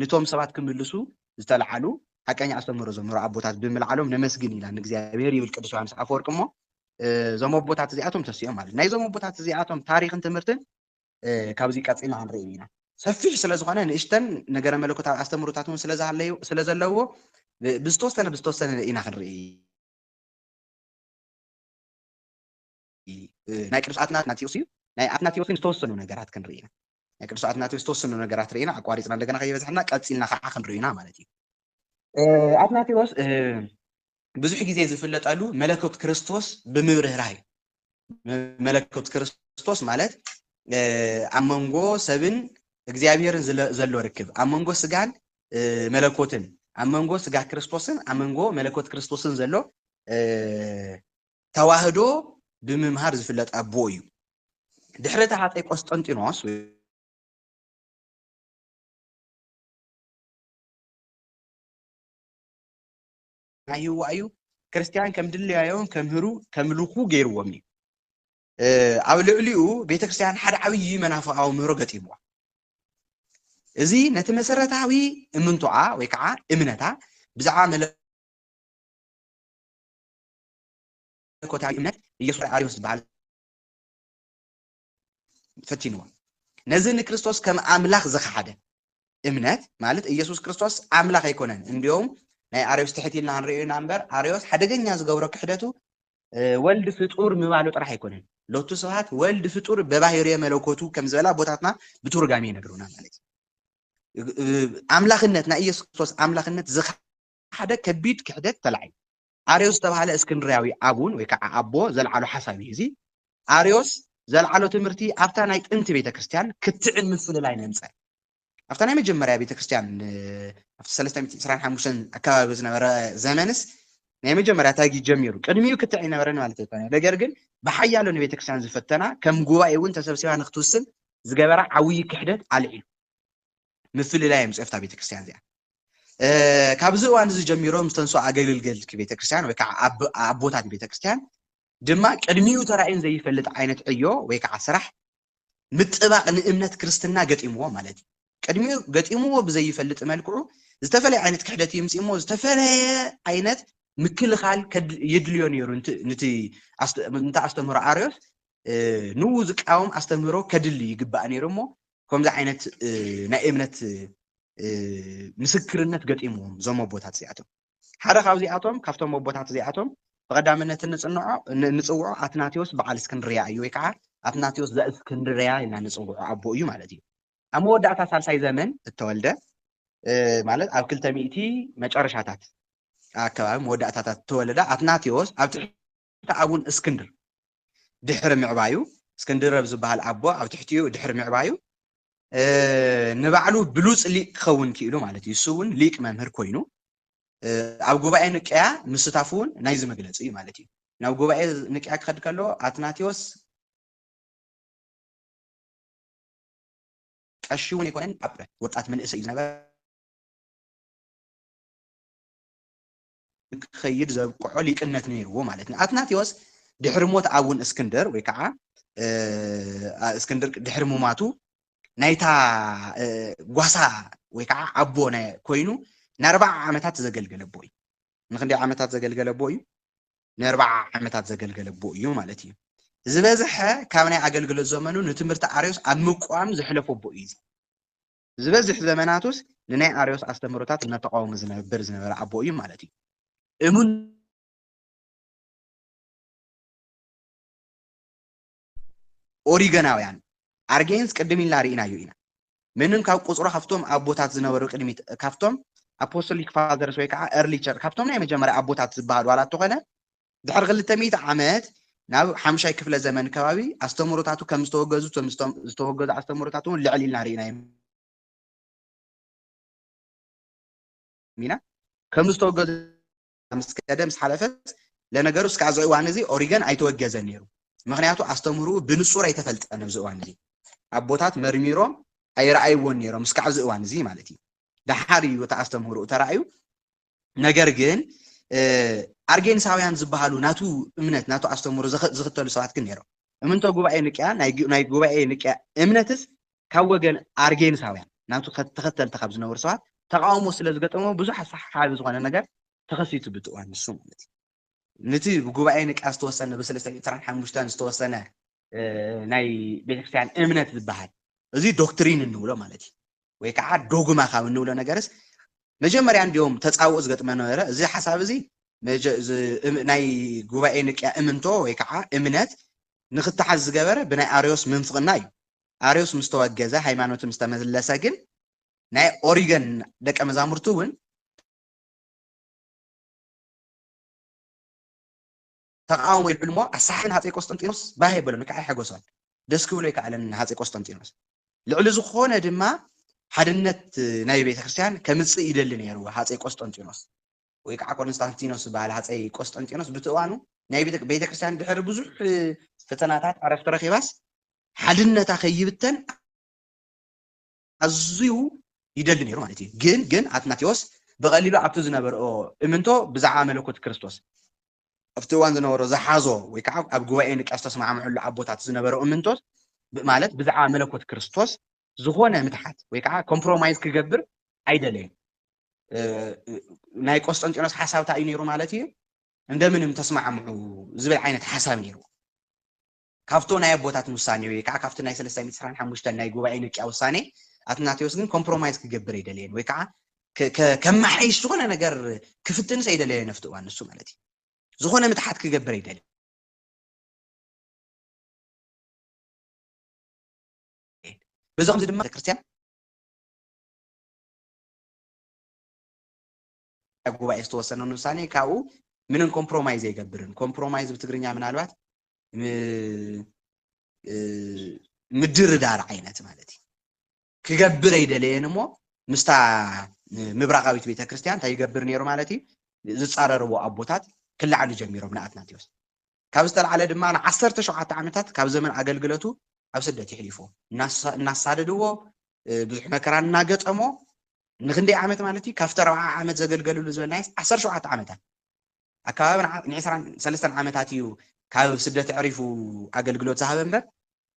S1: ንቶም ሰባት ክምልሱ ዝተልዓሉ ሓቀኛ ኣስተምህሮ ዘምህሩ ኣቦታት ብምልዓሎም ነመስግን ኢና ንእግዚኣብሔር ይብል ቅዱስ ዮሓንስ ኣፈወርቅ እሞ እዞም ኣቦታት እዚኣቶም ተሲኦም ማለት ናይዞም ኣቦታት እዚኣቶም ታሪክን ትምህርትን ካብዚ ቀፂልና ክንርኢ ኢና ሰፊሕ ስለ ዝኾነ ንእሽተን ነገረ መለኮታዊ ኣስተምህሮታት እውን ስለ ዘለዎ ብዝተወሰነ ብዝተወሰነ ኢና ክንርኢ ናይ ቅዱስ ኣትናትናትዮስ እዩ። ናይ ኣትናትዮስ ግን ዝተወሰኑ ነገራት ክንርኢ ኢና። ናይ ቅዱስ ኣትናትዮስ ዝተወሰኑ ነገራት ርኢና ኣቋሪፅና እንደገና ከይበዝሐና ቀፂልና ከዓ ክንሪኦ ኢና ማለት እዩ። ኣትናትዮስ ብዙሕ ግዜ ዝፍለጠሉ መለኮት ክርስቶስ ብምብርህራህ እዩ። መለኮት ክርስቶስ ማለት ኣብ መንጎ ሰብን እግዚኣብሔርን ዘሎ ርክብ ኣብ መንጎ ስጋን መለኮትን ኣብ መንጎ ስጋ ክርስቶስን ኣብ መንጎ መለኮት ክርስቶስን ዘሎ ተዋህዶ ብምምሃር ዝፍለጥ ኣቦ እዩ። ድሕሪ እቲ ሃፀይ ቆስጠንጢኖስ ወይ ናይህዋ እዩ ክርስቲያን ከም ድለያዮም ከምህሩ ከምልኩ ገይርዎም እዩ። ኣብ ልዕሊኡ ቤተ ክርስቲያን ሓደ ዓብዪ መናፍቃዊ ምህሮ ገጢምዋ እዚ ነቲ መሰረታዊ እምንቶኣ ወይ ከዓ እምነታ ብዛዕባ መለ መለኮታዊ እምነት ኢየሱስ ኣርዮስ ዝበሃል ፈቲንዎ። ነዚ ንክርስቶስ ከም ኣምላኽ ዝኸሓደ እምነት ማለት ኢየሱስ ክርስቶስ ኣምላኽ ኣይኮነን እንዲዮም ናይ ኣርዮስ ትሕት ኢልና ንሪኦ ኢና እምበር ኣርዮስ ሓደገኛ ዝገብሮ ክሕደቱ ወልድ ፍጡር ምባሉ ጥራሕ ኣይኮነን ሎቱ ስብሃት ወልድ ፍጡር በባህርየ መለኮቱ ከም ዝበላ ቦታትና ብቱርጋሜ ይነግሩና ማለት እዩ ኣምላኽነት ናይ ኢየሱስ ክርስቶስ ኣምላኽነት ዝካ ሓደ ከቢድ ክሕደት ተላዒሉ። ኣርዮስ ዝተባህለ እስክንድርያዊ ኣቡን ወይ ከዓ ኣቦ ዘልዓሎ ሓሳብ እዩ እዚ። ኣርዮስ ዘልዓሎ ትምህርቲ ኣብታ ናይ ጥንቲ ቤተ ክርስቲያን ክትዕን ምፍልላይ ነምፀ። ኣብታ ናይ መጀመርያ ቤተ ክርስቲያን ኣብቲ ሰለስተ ሚእቲ ዕስራን ሓሙሽተን ኣከባቢ ዝነበረ ዘመንስ ናይ መጀመርያ ታጊ ጀሚሩ ቅድሚኡ ክትዕ ይነበረን ማለት ኣይኮነ ነገር ግን ብሓያሎ ንቤተ ክርስቲያን ዝፈተና ከም ጉባኤ እውን ተሰብሲባ ንክትውስን ዝገበራ ዓብዪ ክሕደት ኣልዒሉ። ምፍልላይ እዮም ዝጽሕፍታ ቤተክርስትያን እዚኣ ካብዚ እዋን እዚ ጀሚሮም ዝተንስኦ ኣገልግልቲ ቤተክርስትያን ወይ ከዓ ኣቦታት ቤተክርስትያን ድማ ቅድሚኡ ተራእዩን ዘይፈልጥ ዓይነት ዕዮ ወይ ከዓ ስራሕ ምጥባቕ ንእምነት ክርስትና ገጢምዎ ማለት እዩ ቅድሚኡ ገጢምዎ ብዘይፈልጥ መልክዑ ዝተፈላለየ ዓይነት ክሕደት ይምፅ እሞ ዝተፈላለየ ዓይነት ምክልኻል የድልዮ ነይሩ ንቲ ኣስተምህሮ ኣርዮስ ንኡ ዝቃወም ኣስተምህሮ ከድሊ ይግባእ ነይሩ እሞ ከምዚ ዓይነት ናይ እምነት ምስክርነት ገጢምዎም እዞም ኣቦታት እዚኣቶም ሓደ ካብዚኣቶም ካብቶም ኣቦታት እዚኣቶም ብቐዳምነት እንፅንዖ እንፅውዖ ኣትናቴዎስ በዓል እስክንድርያ እዩ ወይ ከዓ ኣትናቴዎስ ዘእስክንድርያ ኢልና ንፅውዖ ኣቦ እዩ ማለት እዩ ኣብ መወዳእታ ሳልሳይ ዘመን እተወልደ ማለት ኣብ ክልተ ሚእቲ መጨረሻታት ኣከባቢ መወዳእታታት እተወለደ ኣትናቴዎስ ኣብ ትሕቲ እቲ ኣቡን እስክንድር ድሕሪ ምዕባዩ፣ እስክንድር ኣብ ዝበሃል ኣቦ ኣብ ትሕቲኡ ድሕሪ ምዕባዩ፣ ንባዕሉ ብሉጽ ሊቅ ክኸውን ክኢሉ ማለት እዩ። እሱ እውን ሊቅ መምህር ኮይኑ ኣብ ጉባኤ ንቅያ ምስታፉ እውን ናይዚ መግለጺ እዩ ማለት እዩ። ናብ ጉባኤ ንቅያ ክኸድ ከሎ ኣትናቴዎስ ቀሺ እውን ኣይኮነን፣ ኣብ ወጣት መንእሰይ እዩ ዝነበረ። ንክኸይድ ዘብቅዖ ሊቅነት ነይርዎ ማለት እዩ። ኣትናቴዎስ ድሕሪ ሞት ኣቡን እስክንድር ወይ ከዓ እስክንድር ድሕሪ ሙማቱ ናይታ ጓሳ ወይ ከዓ ኣቦ ኮይኑ ንኣርባዓ ዓመታት ዘገልገለ ኣቦ እዩ። ንክንደይ ዓመታት ዘገልገለ ኣቦ እዩ? ንኣርባዓ ዓመታት ዘገልገለ ኣቦ እዩ ማለት እዩ። ዝበዝሐ ካብ ናይ ኣገልግሎት ዘመኑ ንትምህርቲ ኣርዮስ ኣብ ምቋም ዘሕለፎ ኣቦ እዩ። ዝበዝሕ ዘመናቱስ ንናይ ኣርዮስ ኣስተምህሮታት እናተቓወመ ዝነብር ዝነበረ ኣቦ እዩ ማለት እዩ። እሙን። ኦሪገናውያን፣ ኣርጌንስ ቅድም ኢልና ርኢናዮ ኢና። ምንም ካብ ቁጽሩ ካብቶም ኣቦታት ዝነበሩ ቅድሚት ካብቶም ኣፖስቶሊክ ፋዘርስ ወይ ከኣ ኤርሊ ቸርች ካብቶም ናይ መጀመርያ ኣቦታት ዝበሃሉ ዋላ እተኾነ ድሕሪ ክልተ ሚእቲ ዓመት ናብ ሓምሻይ ክፍለ ዘመን ከባቢ ኣስተምህሮታቱ ከም ዝተወገዙ እቶም ዝተወገዙ ኣስተምህሮታት እውን ልዕል ኢልና ርኢናዮም ኢና ከም ዝተወገዙ ምስ ከደ ምስ ሓለፈት ለነገሩ እስከ ኣብዚ እዋን እዚ ኦሪገን ኣይተወገዘን ነይሩ ምክንያቱ ኣስተምህሩ ብንጹር ኣይተፈልጠን ኣብዚ እዋን እዚ ኣቦታት መርሚሮም ኣይረኣይዎን ነይሮም እስካዕ እዚ እዋን እዚ ማለት እዩ ደሓር እዩ እቲ ኣስተምህሩ ተራእዩ ነገር ግን ኣርጌንሳውያን ዝበሃሉ ናቱ እምነት ናቱ ኣስተምህሮ ዝኽተሉ ሰባት ግን ነይሮም። እምንቶ ጉባኤ ንቅያ ናይ ጉባኤ ንቅያ እምነትስ ካብ ወገን ኣርጌንሳውያን ናቱ ተኸተልቲ ካብ ዝነበሩ ሰባት ተቃውሞ ስለ ዝገጠሞ ብዙሕ ኣሰሓሓቢ ዝኾነ ነገር ተኸሲቱ ብቲ እዋን ንሱ ማለት እዩ። ነቲ ብጉባኤ ንቅያ ዝተወሰነ ብሰለስተ ሚእቲ ዕስራን ሓሙሽተን ዝተወሰነ ናይ ቤተክርስትያን እምነት ዝበሃል እዚ ዶክትሪን እንብሎ ማለት እዩ ወይ ከዓ ዶግማ ካብ እንብሎ ነገርስ መጀመርያ እንዲዮም ተፃውኦ ዝገጥመ ነበረ እዚ ሓሳብ እዚ ናይ ጉባኤ ንቅያ እምንቶ ወይ ከዓ እምነት ንክተሓዝ ዝገበረ ብናይ ኣርዮስ ምንፍቕና እዩ ኣርዮስ ምስ ተወገዘ ሃይማኖት ምስ ተመለሰ ግን ናይ ኦሪገን ደቀ መዛሙርቱ እውን ተቓውሞ ይብዕል እሞ ኣሳሕል ንሃጸይ ቆስጠንጢኖስ ባህ የበሎን ወይ ከኣ ኣይሐጎሶን። ደስ ክብሎ ኣይከኣለን ንሃጸይ ቆስጠንጢኖስ። ልዕሊ ዝኾነ ድማ ሓድነት ናይ ቤተ ክርስቲያን ከምጽእ ይደሊ ነይሩ ሃጸይ ቆስጠንጢኖስ። ወይ ከኣ ኮንስታንቲኖስ ዝበሃል ሃጸይ ቆስጠንጢኖስ ብቲ እዋኑ ናይ ቤተ ቤተ ክርስቲያን ድሕሪ ብዙሕ ፈተናታት ዕረፍቲ ረኺባስ ሓድነታ ከይብተን ኣዝዩ ይደሊ ነይሩ ማለት እዩ። ግን ግን ኣትናቴዎስ ብቐሊሉ ኣብቲ ዝነበርኦ እምንቶ ብዛዕባ መለኮት ክርስቶስ ኣብቲ እዋን ዝነበሮ ዝሓዞ ወይ ከዓ ኣብ ጉባኤ ንቅያ ዝተስማዕምዕሉ ኣቦታት ዝነበረው እምንቶት ማለት ብዛዕባ መለኮት ክርስቶስ ዝኾነ ምትሓት ወይ ከዓ ኮምፕሮማይዝ ክገብር ኣይደለየን። ናይ ቆስጠንጢኖስ ሓሳብ እንታይ እዩ ነይሩ ማለት እዩ እንደምንም ተስማዕምዑ ዝብል ዓይነት ሓሳብ ነይሩ ካብቶ ናይ ኣቦታት ውሳኔ ወይ ከኣ ካብቲ ናይ ሰለሳይ ሚእቲ ዕስራን ሓሙሽተን ናይ ጉባኤ ንቅያ ውሳኔ ኣትናቴዎስ ግን ኮምፕሮማይዝ ክገብር ኣይደለየን ወይ ከኣ ከማሓይሽ ዝኾነ ነገር ክፍትንስ ኣይደለየን ኣብቲ እዋን ንሱ ማለት እዩ ዝኾነ ምትሓት ክገብር ኣይደለየን በዚ ከምዚ ድማ ቤተክርስትያን ኣፈ ጉባኤ ዝተወሰነን ውሳኔ ካብኡ ምንም ኮምፕሮማይዝ ኣይገብርን። ኮምፕሮማይዝ ብትግርኛ ምናልባት ምድርዳር ዓይነት ማለት እዩ ክገብር ኣይደለየን እሞ ምስታ ምብራቃዊት ቤተ ክርስቲያን እንታይ ይገብር ነይሩ ማለት እዩ ዝፃረርዎ ኣቦታት ክላዕሉ ጀሚሮም ንኣትናቴዎስ ካብ ዝተልዓለ ድማ ን ዓሰርተ ሸውዓተ ዓመታት ካብ ዘመን ኣገልግለቱ ኣብ ስደት የሕሊፎ። እናሳደድዎ ብዙሕ መከራ እናገጠሞ ንክንደይ ዓመት ማለት እዩ ካብቲ ኣርብዓ ዓመት ዘገልገልሉ ዝበልናየስ ዓሰርተ ሸውዓተ ዓመታት ኣከባቢ ንዕስራን ሰለስተን ዓመታት እዩ ካብ ስደት ኣዕሪፉ ኣገልግሎት ዝሃበ እምበር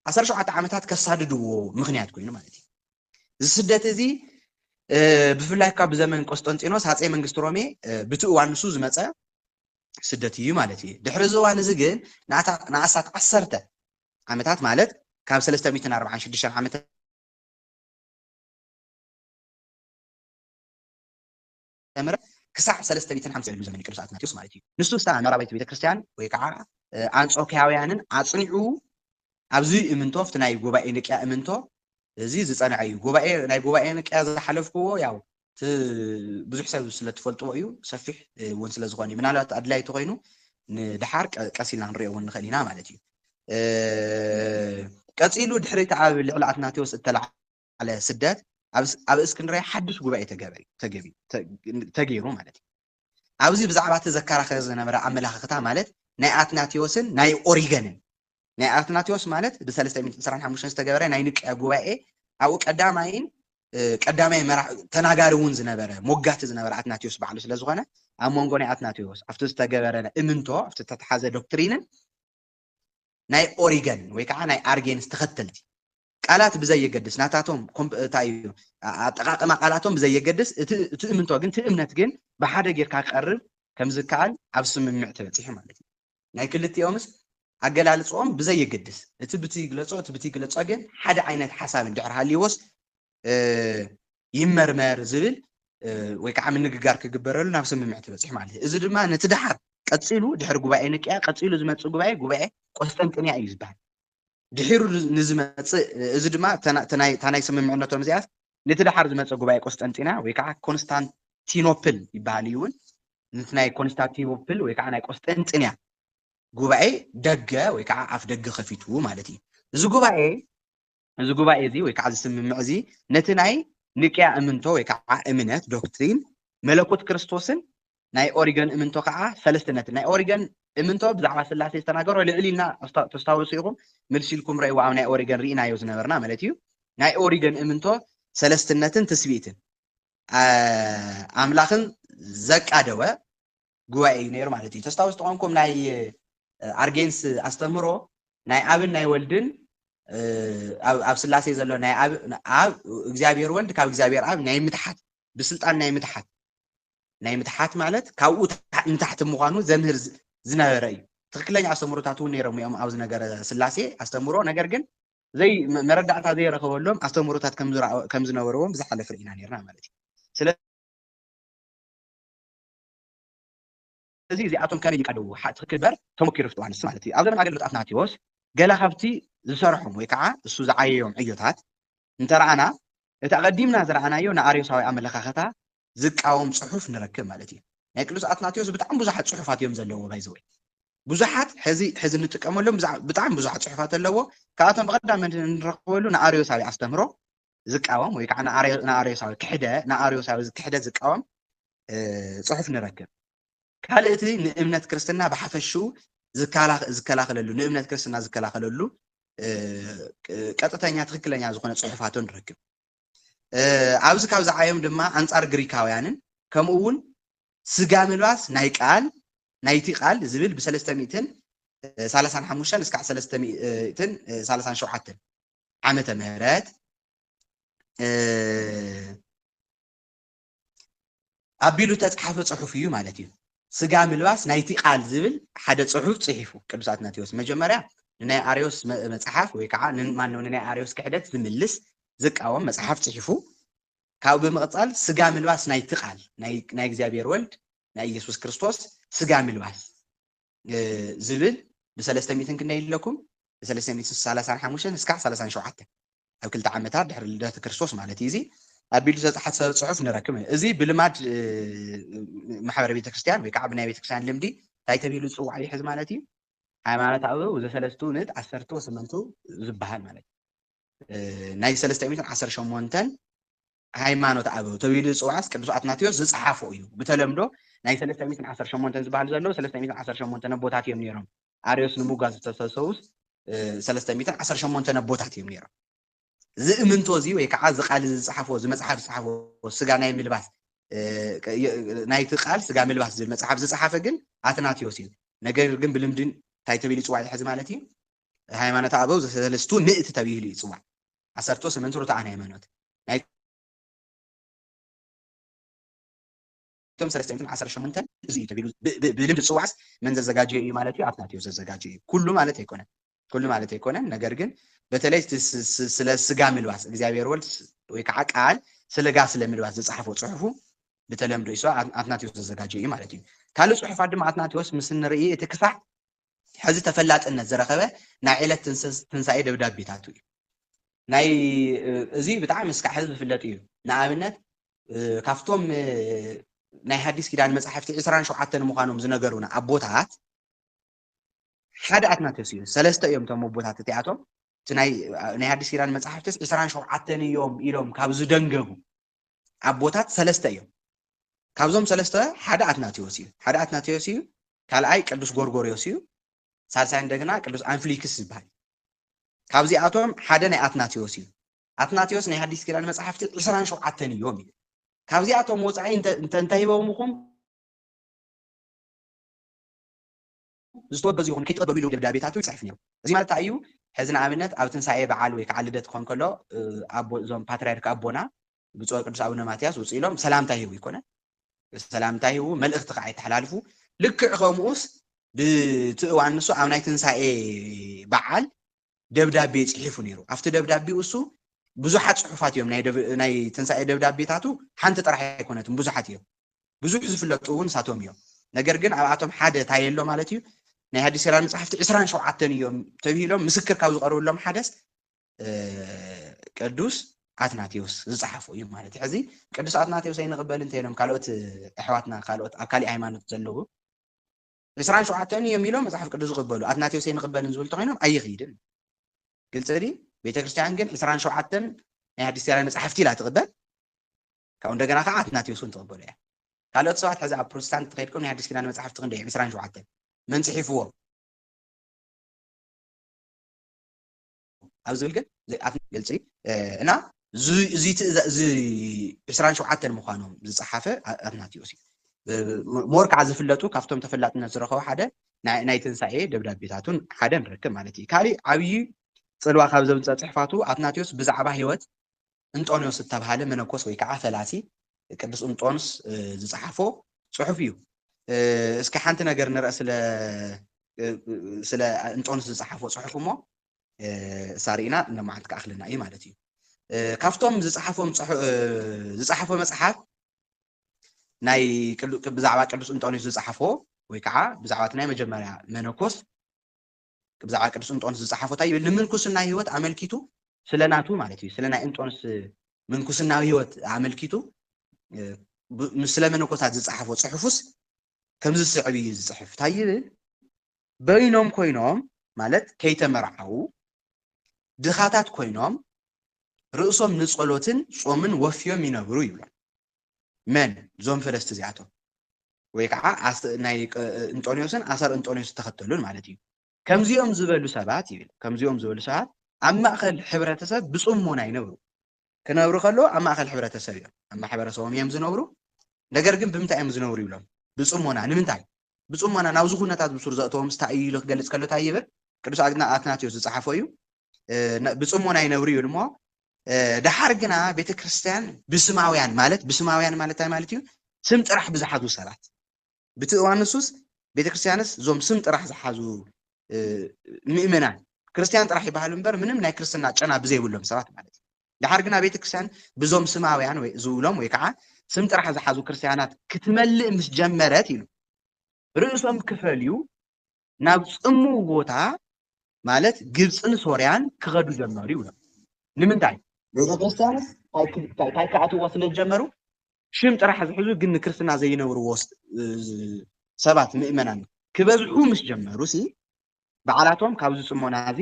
S1: ዓሰርተ ሸውዓተ ዓመታት ከሳድድዎ ምክንያት ኮይኑ ማለት እዩ እዚ ስደት እዚ ብፍላይ ካብ ብዘመን ቆስጠንጢኖስ ሃፀይ መንግስቲ ሮሜ ብቲ እዋን ንሱ ዝመፀ ስደት እዩ ማለት እዩ። ድሕሪ እዚ እዋን እዚ ግን ንኣስታት ዓሰርተ ዓመታት ማለት ካብ ሰለስተ ሚእትን ኣርብዓን ሽዱሽተን ዓመተ ምህረት ክሳዕ ሰለስተ ሚእትን ሓምሳ ዝብል ዘመን ቅዱስ ኣትናቴዎስ ማለት እዩ ንሱ ስታ ምዕራባዊት ቤተክርስትያን ወይ ከዓ ኣንጾኪያውያንን ኣጽኒዑ ኣብዚ እምንቶ ኣብቲ ናይ ጉባኤ ንቅያ እምንቶ እዚ ዝጸንዐ እዩ ጉባኤ ናይ ጉባኤ ንቅያ ዝሓለፍክዎ ያው እቲ ብዙሕ ሰብ ስለ ትፈልጥዎ እዩ ሰፊሕ እውን ስለ ዝኾነ እዩ ምናልባት ኣድላይ ተኾይኑ ንድሓር ቀስ ኢልና ክንሪኦ እውን ንኽእል ኢና ማለት እዩ ቀጺሉ ድሕሪ እቲ ኣብ ልዕሊ ኣትናቴዎስ እተለዓ ዓለ ስደት ኣብ እስክንድርያ ሓድሽ ጉባኤ ተገይሩ ማለት እዩ። ኣብዚ ብዛዕባ እቲ ዘከራኸር ዝነበረ ኣመለኻኽታ ማለት ናይ ኣትናቴዎስን ናይ ኦሪገንን ናይ ኣትናቴዎስ ማለት ብ325 ዝተገበረ ናይ ንቅያ ጉባኤ ኣብኡ ቀዳማይን ቀዳማይ መራሕ ተናጋሪ እውን ዝነበረ ሞጋቲ ዝነበረ ኣትናቴዎስ ባዕሉ ስለ ዝኾነ ኣብ መንጎ ናይ ኣትናቴዎስ ኣብቲ ዝተገበረ እምንቶ ኣብቲ ተተሓዘ ዶክትሪንን ናይ ኦሪገን ወይ ከዓ ናይ ኣርጌንስ ተኸተልቲ ቃላት ብዘየገድስ ናታቶም እንታይ እዩ ኣጠቃቅማ ቃላቶም ብዘየገድስ እቲ እምንቶ ግን እቲ እምነት ግን ብሓደ ጌርካ ክቀርብ ከም ዝከኣል ኣብ ስምምዕ ተበፂሑ ማለት እዩ ናይ ክልቲኦምስ ኣገላልፅኦም ብዘየገድስ እቲ ብቲ ይግለፆ እቲ ብቲ ይግለፆ ግን ሓደ ዓይነት ሓሳብ እንድሕር ሃልይዎስ ይመርመር ዝብል ወይ ከዓ ምንግጋር ክግበረሉ ናብ ስምምዕ ትበፅሕ ማለት እዩ። እዚ ድማ ነቲ ድሓር ቀፂሉ ድሕሪ ጉባኤ ንቅያ ቀፂሉ ዝመፅእ ጉባኤ ጉባኤ ቆስጠንጥንያ እዩ ዝበሃል። ድሒሩ ንዝመፅእ እዚ ድማ እታ ናይ ስምምዕነቶም እዚኣ ነቲ ድሓር ዝመፀ ጉባኤ ቆስጠንጢንያ ወይ ከዓ ኮንስታንቲኖፕል ይበሃል እዩ እውን ነቲ ናይ ኮንስታንቲኖፕል ወይ ከዓ ናይ ቆስጠንጥንያ ጉባኤ ደገ ወይ ከዓ ኣፍ ደገ ከፊቱ ማለት እዩ። እዚ ጉባኤ እዚ ጉባኤ እዚ ወይ ከዓ እዚ ስምምዕ እዚ ነቲ ናይ ንቅያ እምንቶ ወይ ከዓ እምነት ዶክትሪን መለኮት ክርስቶስን ናይ ኦሪገን እምንቶ ከዓ ሰለስትነትን ናይ ኦሪገን እምንቶ ብዛዕባ ስላሴ ዝተናገሮ ልዕል ኢልና ተስታውሱ ኢኹም ምልሲ ኢልኩም ረእይዎ ኣብ ናይ ኦሪገን ርኢናዮ ዝነበርና ማለት እዩ ናይ ኦሪገን እምንቶ ሰለስትነትን ትስብእትን ኣምላኽን ዘቃደወ ጉባኤ እዩ ነይሩ ማለት እዩ። ተስታውስ ተኾንኩም ናይ ኣርጌንስ ኣስተምህሮ ናይ ኣብን ናይ ወልድን ኣብ ስላሴ ዘሎ ናይ ኣብ እግዚኣብሔር ወልድ ካብ እግዚኣብሔር ኣብ ናይ ምትሓት ብስልጣን ናይ ምትሓት ናይ ምትሓት ማለት ካብኡ ንታሕቲ ምዃኑ ዘምህር ዝነበረ እዩ ትክክለኛ ኣስተምሮታት እውን ነይሮም እዮም ኣብዚ ነገረ ስላሴ ኣስተምሮ ነገር ግን ዘይ መረዳእታ ዘይረኸበሎም ኣስተምሮታት ከም ዝነበርዎም ብዝሓለፈ ኢና ነርና ማለት እዩ እዚ እዚኣቶም ከመይ ይቀልዉ ሓ ትክክል እበር ተመኪሩ ፍትዋ ንስ ማለት እዩ ኣብ ዘመን ኣገልግሎት ኣትናቴዎስ ገለ ካብቲ ዝሰረሖም ወይ ካዓ እሱ ዝዓየዮም ዕዮታት እንተራኣና እቲ ኣቀዲምና ዝራኣናዮ ንኣርዮሳዊ ኣመለካከታ ዝቃወም ፅሑፍ ንረክብ ማለት እዩ ናይ ቅዱስ ኣትናቴዎስ ብጣዕሚ ብዙሓት ፅሑፋት እዮም ዘለዎ ባይ ዘወይ ብዙሓት ሕዚ ሕዚ ንጥቀመሎም ብጣዕሚ ብዙሓት ፅሑፋት ኣለዎ ካብኣቶም ብቀዳመ ንረክበሉ ንኣርዮሳዊ ኣስተምህሮ ዝቃወም ወይ ከዓ ንኣርዮሳዊ ክሕደ ንኣርዮሳዊ ክሕደት ዝቃወም ፅሑፍ ንረክብ ካልእ እቲ ንእምነት ክርስትና ብሓፈሽኡ ዝከላኸለሉ ንእምነት ክርስትና ዝከላኸለሉ ቀጥተኛ ትክክለኛ ዝኾነ ፅሑፋቶ ንረክብ ኣብዚ ካብ ዝዓዮም ድማ ኣንፃር ግሪካውያንን ከምኡ እውን ስጋ ምልባስ ናይ ቃል ናይቲ ቃል ዝብል ብሰለስተ ሚእትን ሰላሳን ሓሙሽተን እስካዕ ሰለስተ ሚእትን ሰላሳን ሸውዓተን ዓመተ ምህረት ኣቢሉ ተፃሓፈ ፅሑፍ እዩ ማለት እዩ ስጋ ምልባስ ናይቲ ቃል ዝብል ሓደ ፅሑፍ ፅሒፉ ቅዱስ ኣትናቴዎስ መጀመርያ ንናይ ኣርዮስ መፅሓፍ ወይ ከዓ ማነው ንናይ ኣርዮስ ክሕደት ዝምልስ ዝቃወም መፅሓፍ ፅሒፉ ካብኡ ብምቕፃል ስጋ ምልባስ ናይቲ ቃል ናይ እግዚኣብሔር ወልድ ናይ ኢየሱስ ክርስቶስ ስጋ ምልባስ ዝብል ብሰለስተ ሚእትን ክንደይ ኣለኩም ብሰለስተ ሚእቲ ሰላሳን ሓሙሽተን እስካዕ ሰላሳን ሸውዓተ ኣብ ክልተ ዓመታት ድሕሪ ልደት ክርስቶስ ማለት እዩ እዚ ኣቢሉ ዝተፅሓፈ ፅሑፍ ንረክብ እዚ ብልማድ ማሕበረ ቤተክርስትያን ወይ ከዓ ብናይ ቤተክርስትያን ልምዲ እንታይ ተቢሉ ዝፅዋዕ ይሕዝ ማለት እዩ ሃይማኖታዊ ዘሰለስቱ ንት ዓሰርተ ወስምንቱ ዝበሃል ማለት እዩ ናይ ሰለስተ ሚእትን ዓሰርተ ሸሞንተን ሃይማኖት ኣበው ተብይሉ ዝጽዋዕስ ቅዱስ ኣትናቴዎስ ዝጸሓፎ እዩ ብተለምዶ ናይ ሰለስተ ሚትን ዓሰርተ ሸሞንተን ዝባህል ዘሎ ሰለስተ ሚትን ዓሰርተ ሸሞንተን ኣቦታት እዮም ነይሮም ኣርዮስ ንምጓዝ ዝተሰሰውስ ሰለስተ ሚትን ዓሰርተ ሸሞንተን ኣቦታት እዮም ነይሮም ዝእምንቶ እዚ ወይ ከዓ እዚ ቃል እዚ ዝፀሓፎ እዚ መፅሓፍ ዝፀሓፎ ስጋ ናይ ምልባስ ናይቲ ቃል ስጋ ምልባስ ዝብል መፅሓፍ ዝፀሓፈ ግን ኣትናቴዎስ እዩ ነገር ግን ብልምድን እንታይ ተቢሉ ይፅዋዕ ሕዚ ማለት እዩ ሃይማኖተ ኣበው ዘሰለስቱ ምእቲ ተብሂሉ ይጽዋዕ። ዓሰርተ ወሰመንቱ ርቱዓን ሃይማኖት ናይቶም ሰለስተ ሚእትን ዓሰርተ ሸሞንተን እዚ እዩ ተብሂሉ ብልምዲ ዝጽዋዕስ መን ዘዘጋጀዮ እዩ ማለት እዩ ኣትናቴዎስ ዘዘጋጀዮ እዩ ኩሉ ማለት ኣይኮነን ኩሉ ማለት ኣይኮነን ነገር ግን በተለይ ስለ ስጋ ምልባስ እግዚኣብሔር ወልድ ወይ ከዓ ቃል ስለጋ ስለ ምልባስ ዝፀሓፎ ፅሑፉ ብተለምዶ ይስዋ ኣትናቴዎስ ዘዘጋጀ እዩ ማለት እዩ ካልእ ፅሑፋት ድማ ኣትናቴዎስ ምስ ንርኢ እቲ ክሳዕ ሕዚ ተፈላጥነት ዝረኸበ ናይ ዕለት ትንሳኤ ደብዳቤታቱ እዩ። ናይ እዚ ብጣዕሚ እስካዕ ሕዚ ዝፍለጥ እዩ። ንኣብነት ካብቶም ናይ ሓዲስ ኪዳን መጻሕፍቲ ዕስራን ሸውዓተን ምዃኖም ዝነገሩና ኣቦታት ሓደ ኣትናቴዎስ እዩ። ሰለስተ እዮም እቶም ኣቦታት እቲኣቶም እቲ ናይ ሓዲስ ኪዳን መጻሕፍትስ ዕስራን ሸውዓተን እዮም ኢሎም ካብ ዝደንገቡ ኣቦታት ሰለስተ እዮም። ካብዞም ሰለስተ ሓደ ኣትናቴዎስ እዩ። ሓደ ኣትናቴዎስ እዩ፣ ካልኣይ ቅዱስ ጎርጎርዮስ እዩ፣ ሳልሳይ እንደገና ቅዱስ ኣንፍሊክስ ዝበሃል ካብዚኣቶም ሓደ ናይ ኣትናቴዎስ እዩ። ኣትናቴዎስ ናይ ሓዲስ ኪዳን መጽሓፍቲ ዕስራን ሸውዓተን እዮም እዩ። ካብዚኣቶም ወፃኢ እንተ እንተሂበምኹም ዝተወገዙ ይኹኑ ኣይትቐበሉ ኢሉ ደብዳቤታቱ ይጽሕፍ ነይሩ። እዚ ማለት እንታይ እዩ? ሕዚ ንኣብነት ኣብ ትንሳኤ በዓል ወይ ከዓ ልደት ክኾን ከሎ ኣቦ እዞም ፓትርያርክ ኣቦና ብፁዕ ወቅዱስ ኣቡነ ማትያስ ውፅእ ኢሎም ሰላምታ ይህቡ ይኮነ ሰላምታ ይህቡ መልእኽቲ ከዓ የተሓላልፉ ልክዕ ከምኡስ ብትእዋን ንሱ ኣብ ናይ ትንሳኤ በዓል ደብዳቤ ጽሒፉ ነይሩ። ኣብቲ ደብዳቤኡ እሱ ብዙሓት ጽሑፋት እዮም ናይ ትንሳኤ ደብዳቤታቱ ሓንቲ ጥራሕ ኣይኮነትን ብዙሓት እዮም ብዙሕ ዝፍለጡ እውን ሳቶም እዮም ነገር ግን ኣብኣቶም ሓደ እንታይ የሎ ማለት እዩ ናይ ሃዲስ ሴራ መፅሓፍቲ ዕስራን ሸውዓተን እዮም ተብሂሎም ምስክር ካብ ዝቐርብሎም ሓደስ ቅዱስ ኣትናቴዎስ ዝፀሓፉ እዩ ማለት እዩ ሕዚ ቅዱስ ኣትናቴዎስ ኣይንቕበል እንተይኖም ካልኦት ኣሕዋትና ካልኦት ኣብ ካሊእ ሃይማኖት ዘለዉ ዕስራን ሸውዓተን እዮም ኢሎም መጽሓፍ ቅዱስ ዝቕበሉ ኣትናቴዎስ ኣይንቕበልን ዝብሉ እንተኾይኖም ኣይኽይድን ግልፂ ድዩ ቤተ ክርስቲያን ግን ዕስራን ሸውዓተን ናይ ኣዲስ ኪዳን መጽሓፍቲ ኢላ ትቕበል ካብኡ እንደገና ከዓ ኣትናቴዎስ እውን ትቕበሉ እያ ካልኦት ሰባት ሕዚ ኣብ ፕሮቴስታንት ተኸይድኩም ናይ ኣዲስ ኪዳን መጽሓፍቲ ክንደይ ዕስራን ሸውዓተን መን ጽሒፍዎም ኣብ ዝብል ግን ዘይኣፍን ግልጺ እና እዙይ ዕስራን ሸውዓተን ምዃኖም ዝጸሓፈ ኣትናትዮስ እዩ። ሞር ከዓ ዝፍለጡ ካብቶም ተፈላጥነት ዝረኸቡ ሓደ ናይ ትንሳኤ ደብዳቤታቱን ሓደ ንረክብ ማለት እዩ። ካሊእ ዓብዪ ጽልዋ ካብ ዘምፀ ጽሕፋቱ ኣትናትዮስ ብዛዕባ ህይወት እንጦንዮስ እተብሃለ መነኮስ ወይ ከዓ ፈላሲ ቅዱስ እንጦንስ ዝፀሓፎ ፅሑፍ እዩ። እስኪ ሓንቲ ነገር ንርአ ስለ እንጦንስ ዝፀሓፎ ፅሑፍ እሞ እሳ ርኢና እነማዓልቲ ክኣኽለና እዩ ማለት እዩ። ካብቶም ዝፀሓፎም ዝፀሓፎ መፅሓፍ ናይ ብዛዕባ ቅዱስ እንጦንዮስ ዝፀሓፎ ወይ ከዓ ብዛዕባ እቲ ናይ መጀመርያ መነኮስ ብዛዕባ ቅዱስ እንጦንስ ዝጸሓፎ እንታይ ይብል? ንምንኩስና ሕይወት ኣመልኪቱ፣ ስለ ናቱ ማለት እዩ፣ ስለ ናይ እንጦንስ ምንኩስናዊ ሕይወት ኣመልኪቱ ስለ መነኮሳት ዝጸሓፎ ጽሑፉስ ከምዚ ዝስዕብ እዩ ዝጽሕፍ። እንታይ ይብል? በይኖም ኮይኖም ማለት ከይተመርዓዉ ድኻታት ኮይኖም ርእሶም ንጸሎትን ጾምን ወፍዮም ይነብሩ ይብሎም። መን ዞም ፈለስቲ እዚኣቶም ወይ ከዓ ኣስ- ናይ ቀ- እንጦንዮስን ኣሰር እንጦንዮስ ዝተኸተሉን ማለት እዩ ከምዚኦም ዝበሉ ሰባት ይብል ከምዚኦም ዝበሉ ሰባት ኣብ ማእኸል ሕብረተሰብ ብፅሞና ይነብሩ ክነብሩ ከለዉ ኣብ ማእኸል ሕብረተሰብ እዮም ኣብ ማሕበረሰቦም እዮም ዝነብሩ ነገር ግን ብምንታይ እዮም ዝነብሩ ይብሎም ብፅሞና ንምንታይ ብጽሞና ናብዚ ኩነታት ብሱር ዘእተዎም ስታይ እዩ ኢሉ ክገልጽ ከሎ ታይ ይብል ቅዱስ ኣትናቴዎስ ዝጸሓፎ እዩ ብጽሞና ይነብሩ ይብል እሞ ደሓር ግና ቤተ ክርስቲያን ብስማውያን ማለት ብስማውያን ማለት ታይ ማለት እዩ ስም ጥራሕ ብዝሓዙ ሰባት ብቲ እዋን ንሱስ ቤተ ክርስቲያንስ እዞም ስም ጥራሕ ዝሓዙ ምእመናን ክርስቲያን ጥራሕ ይበሃሉ እምበር ምንም ናይ ክርስትና ጨና ብዘይብሎም ሰባት ማለት እዩ ደሓር ግና ቤተ ክርስቲያን ብዞም ስማውያን ወይ ዝብሎም ወይ ከዓ ስም ጥራሕ ዝሓዙ ክርስቲያናት ክትመልእ ምስ ጀመረት ኢሉ ርእሶም ክፈልዩ ናብ ጽምው ቦታ ማለት ግብፅን ሶርያን ክኸዱ ጀመሩ ይብሎም። ንምንታይ ቤተ ክርስቲያን ታይ ክኣትዎ ስለ ዝጀመሩ ሽም ጥራሕ ዝሕዙ ግን ንክርስትና ዘይነብርዎ ሰባት ምእመናን ክበዝሑ ምስ ጀመሩ ሲ በዓላቶም ካብዚ ጽሞናዚ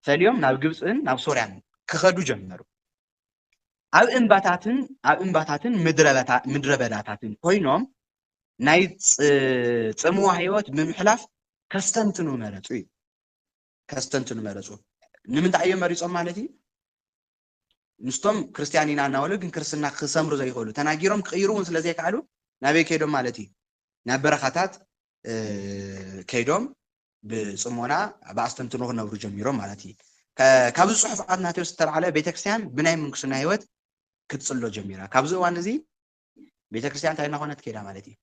S1: ፈልዮም ናብ ግብጽን ናብ ሶርያን ክኸዱ ጀመሩ። ኣብ እምባታትን ኣብ እምባታትን ምድረ በዳታትን ኮይኖም ናይ ጽምዋ ህይወት ብምሕላፍ ከስተንትኑ መረጹ እዩ። ከስተንትኑ መረጹ። ንምንታይ እዮም መሪጾም ማለት እዩ? ምስቶም ክርስትያን ኢና እናበሉ ግን ክርስትና ክሰምሩ ዘይኽእሉ ተናጊሮም ክቕይሩ እውን ስለ ዘይከኣሉ ናበይ ከይዶም ማለት እዩ ናብ በረኻታት ከይዶም ብጽሞና ብኣስተንትኖ ክነብሩ ጀሚሮም ማለት እዩ ካብዚ ጽሑፍ ኣትናቴዎስ ዝተባዕለ ቤተክርስትያን ብናይ ምንኩስና ህይወት ክትጽሎ ጀሚራ ካብዚ እዋን እዚ ቤተክርስትያን እንታይ እናኾነት ከይዳ ማለት እዩ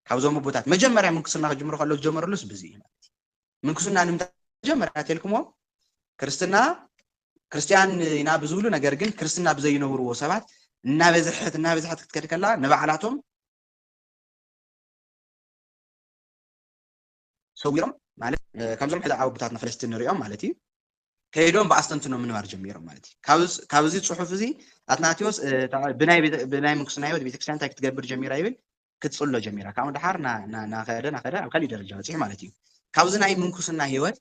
S1: ካብዞም ኣቦታት መጀመርያ ምንኩስና ክጅምሩ ከሎ ዝጀመርሉስ ብዚ እዩ ማለት እዩ ምንኩስና ንምንታይ መጀመርያ ተልኩሞ ክርስትና ክርስትያን ኢና ብዝብሉ ነገር ግን ክርስትና ብዘይነብርዎ ሰባት እናበዝሐት እናበዝሐት ክትከድ ከላ ንባዕላቶም ሰዊሮም ማለት ካብዞም ሕዚ ዓወብታትና ፈለስቲ ንሪኦም ማለት እዩ ከይዶም ብኣስተንትኖ ምንባር ጀሚሮም ማለት እዩ ካብ እዚ ፅሑፍ እዚ ኣትናቴዎስ ብናይ ምንኩስና ህይወት ቤተክርስትያን እንታይ ክትገብር ጀሚራ ይብል ክትፅሎ ጀሚራ ካብኡ ድሓር ናኸደ ናኸደ ኣብ ካሊእ ደረጃ በፂሑ ማለት እዩ ካብዚ ናይ ምንኩስና ህይወት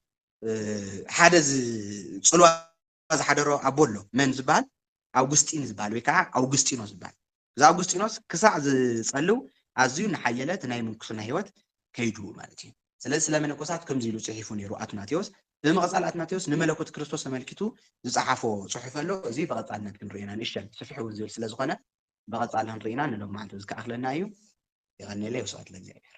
S1: ሓደ ፅልዋ ኣቦና ዝሓደሮ ኣቦ ኣሎ መን ዝበሃል ኣውግስጢን ዝበሃል ወይ ከዓ ኣውግስጢኖ ዝበሃል እዚ ኣውግስጢኖስ ክሳዕ ዝፀልው ኣዝዩ እናሓየለ እቲ ናይ ምንኩስና ህይወት ከይዱ ማለት እዩ። ስለዚ ስለ መነኮሳት ከምዚ ኢሉ ፅሒፉ ነይሩ ኣትናቴዎስ። ብምቕፃል ኣትናቴዎስ ንመለኮት ክርስቶስ ኣመልኪቱ ዝፀሓፎ ፅሑፍ ኣሎ። እዚ ብቐፃልነት ክንሪኦ ኢና ንእሽተን ስፍሕ እውን ዝብል ስለ ዝኾነ ብቐፃሊ ክንሪኦ ኢና ንሎሚ መዓልቲ እዚ ክኣኽለና እዩ። የቐንየለይ ወስብሐት ለእግዚኣብሔር።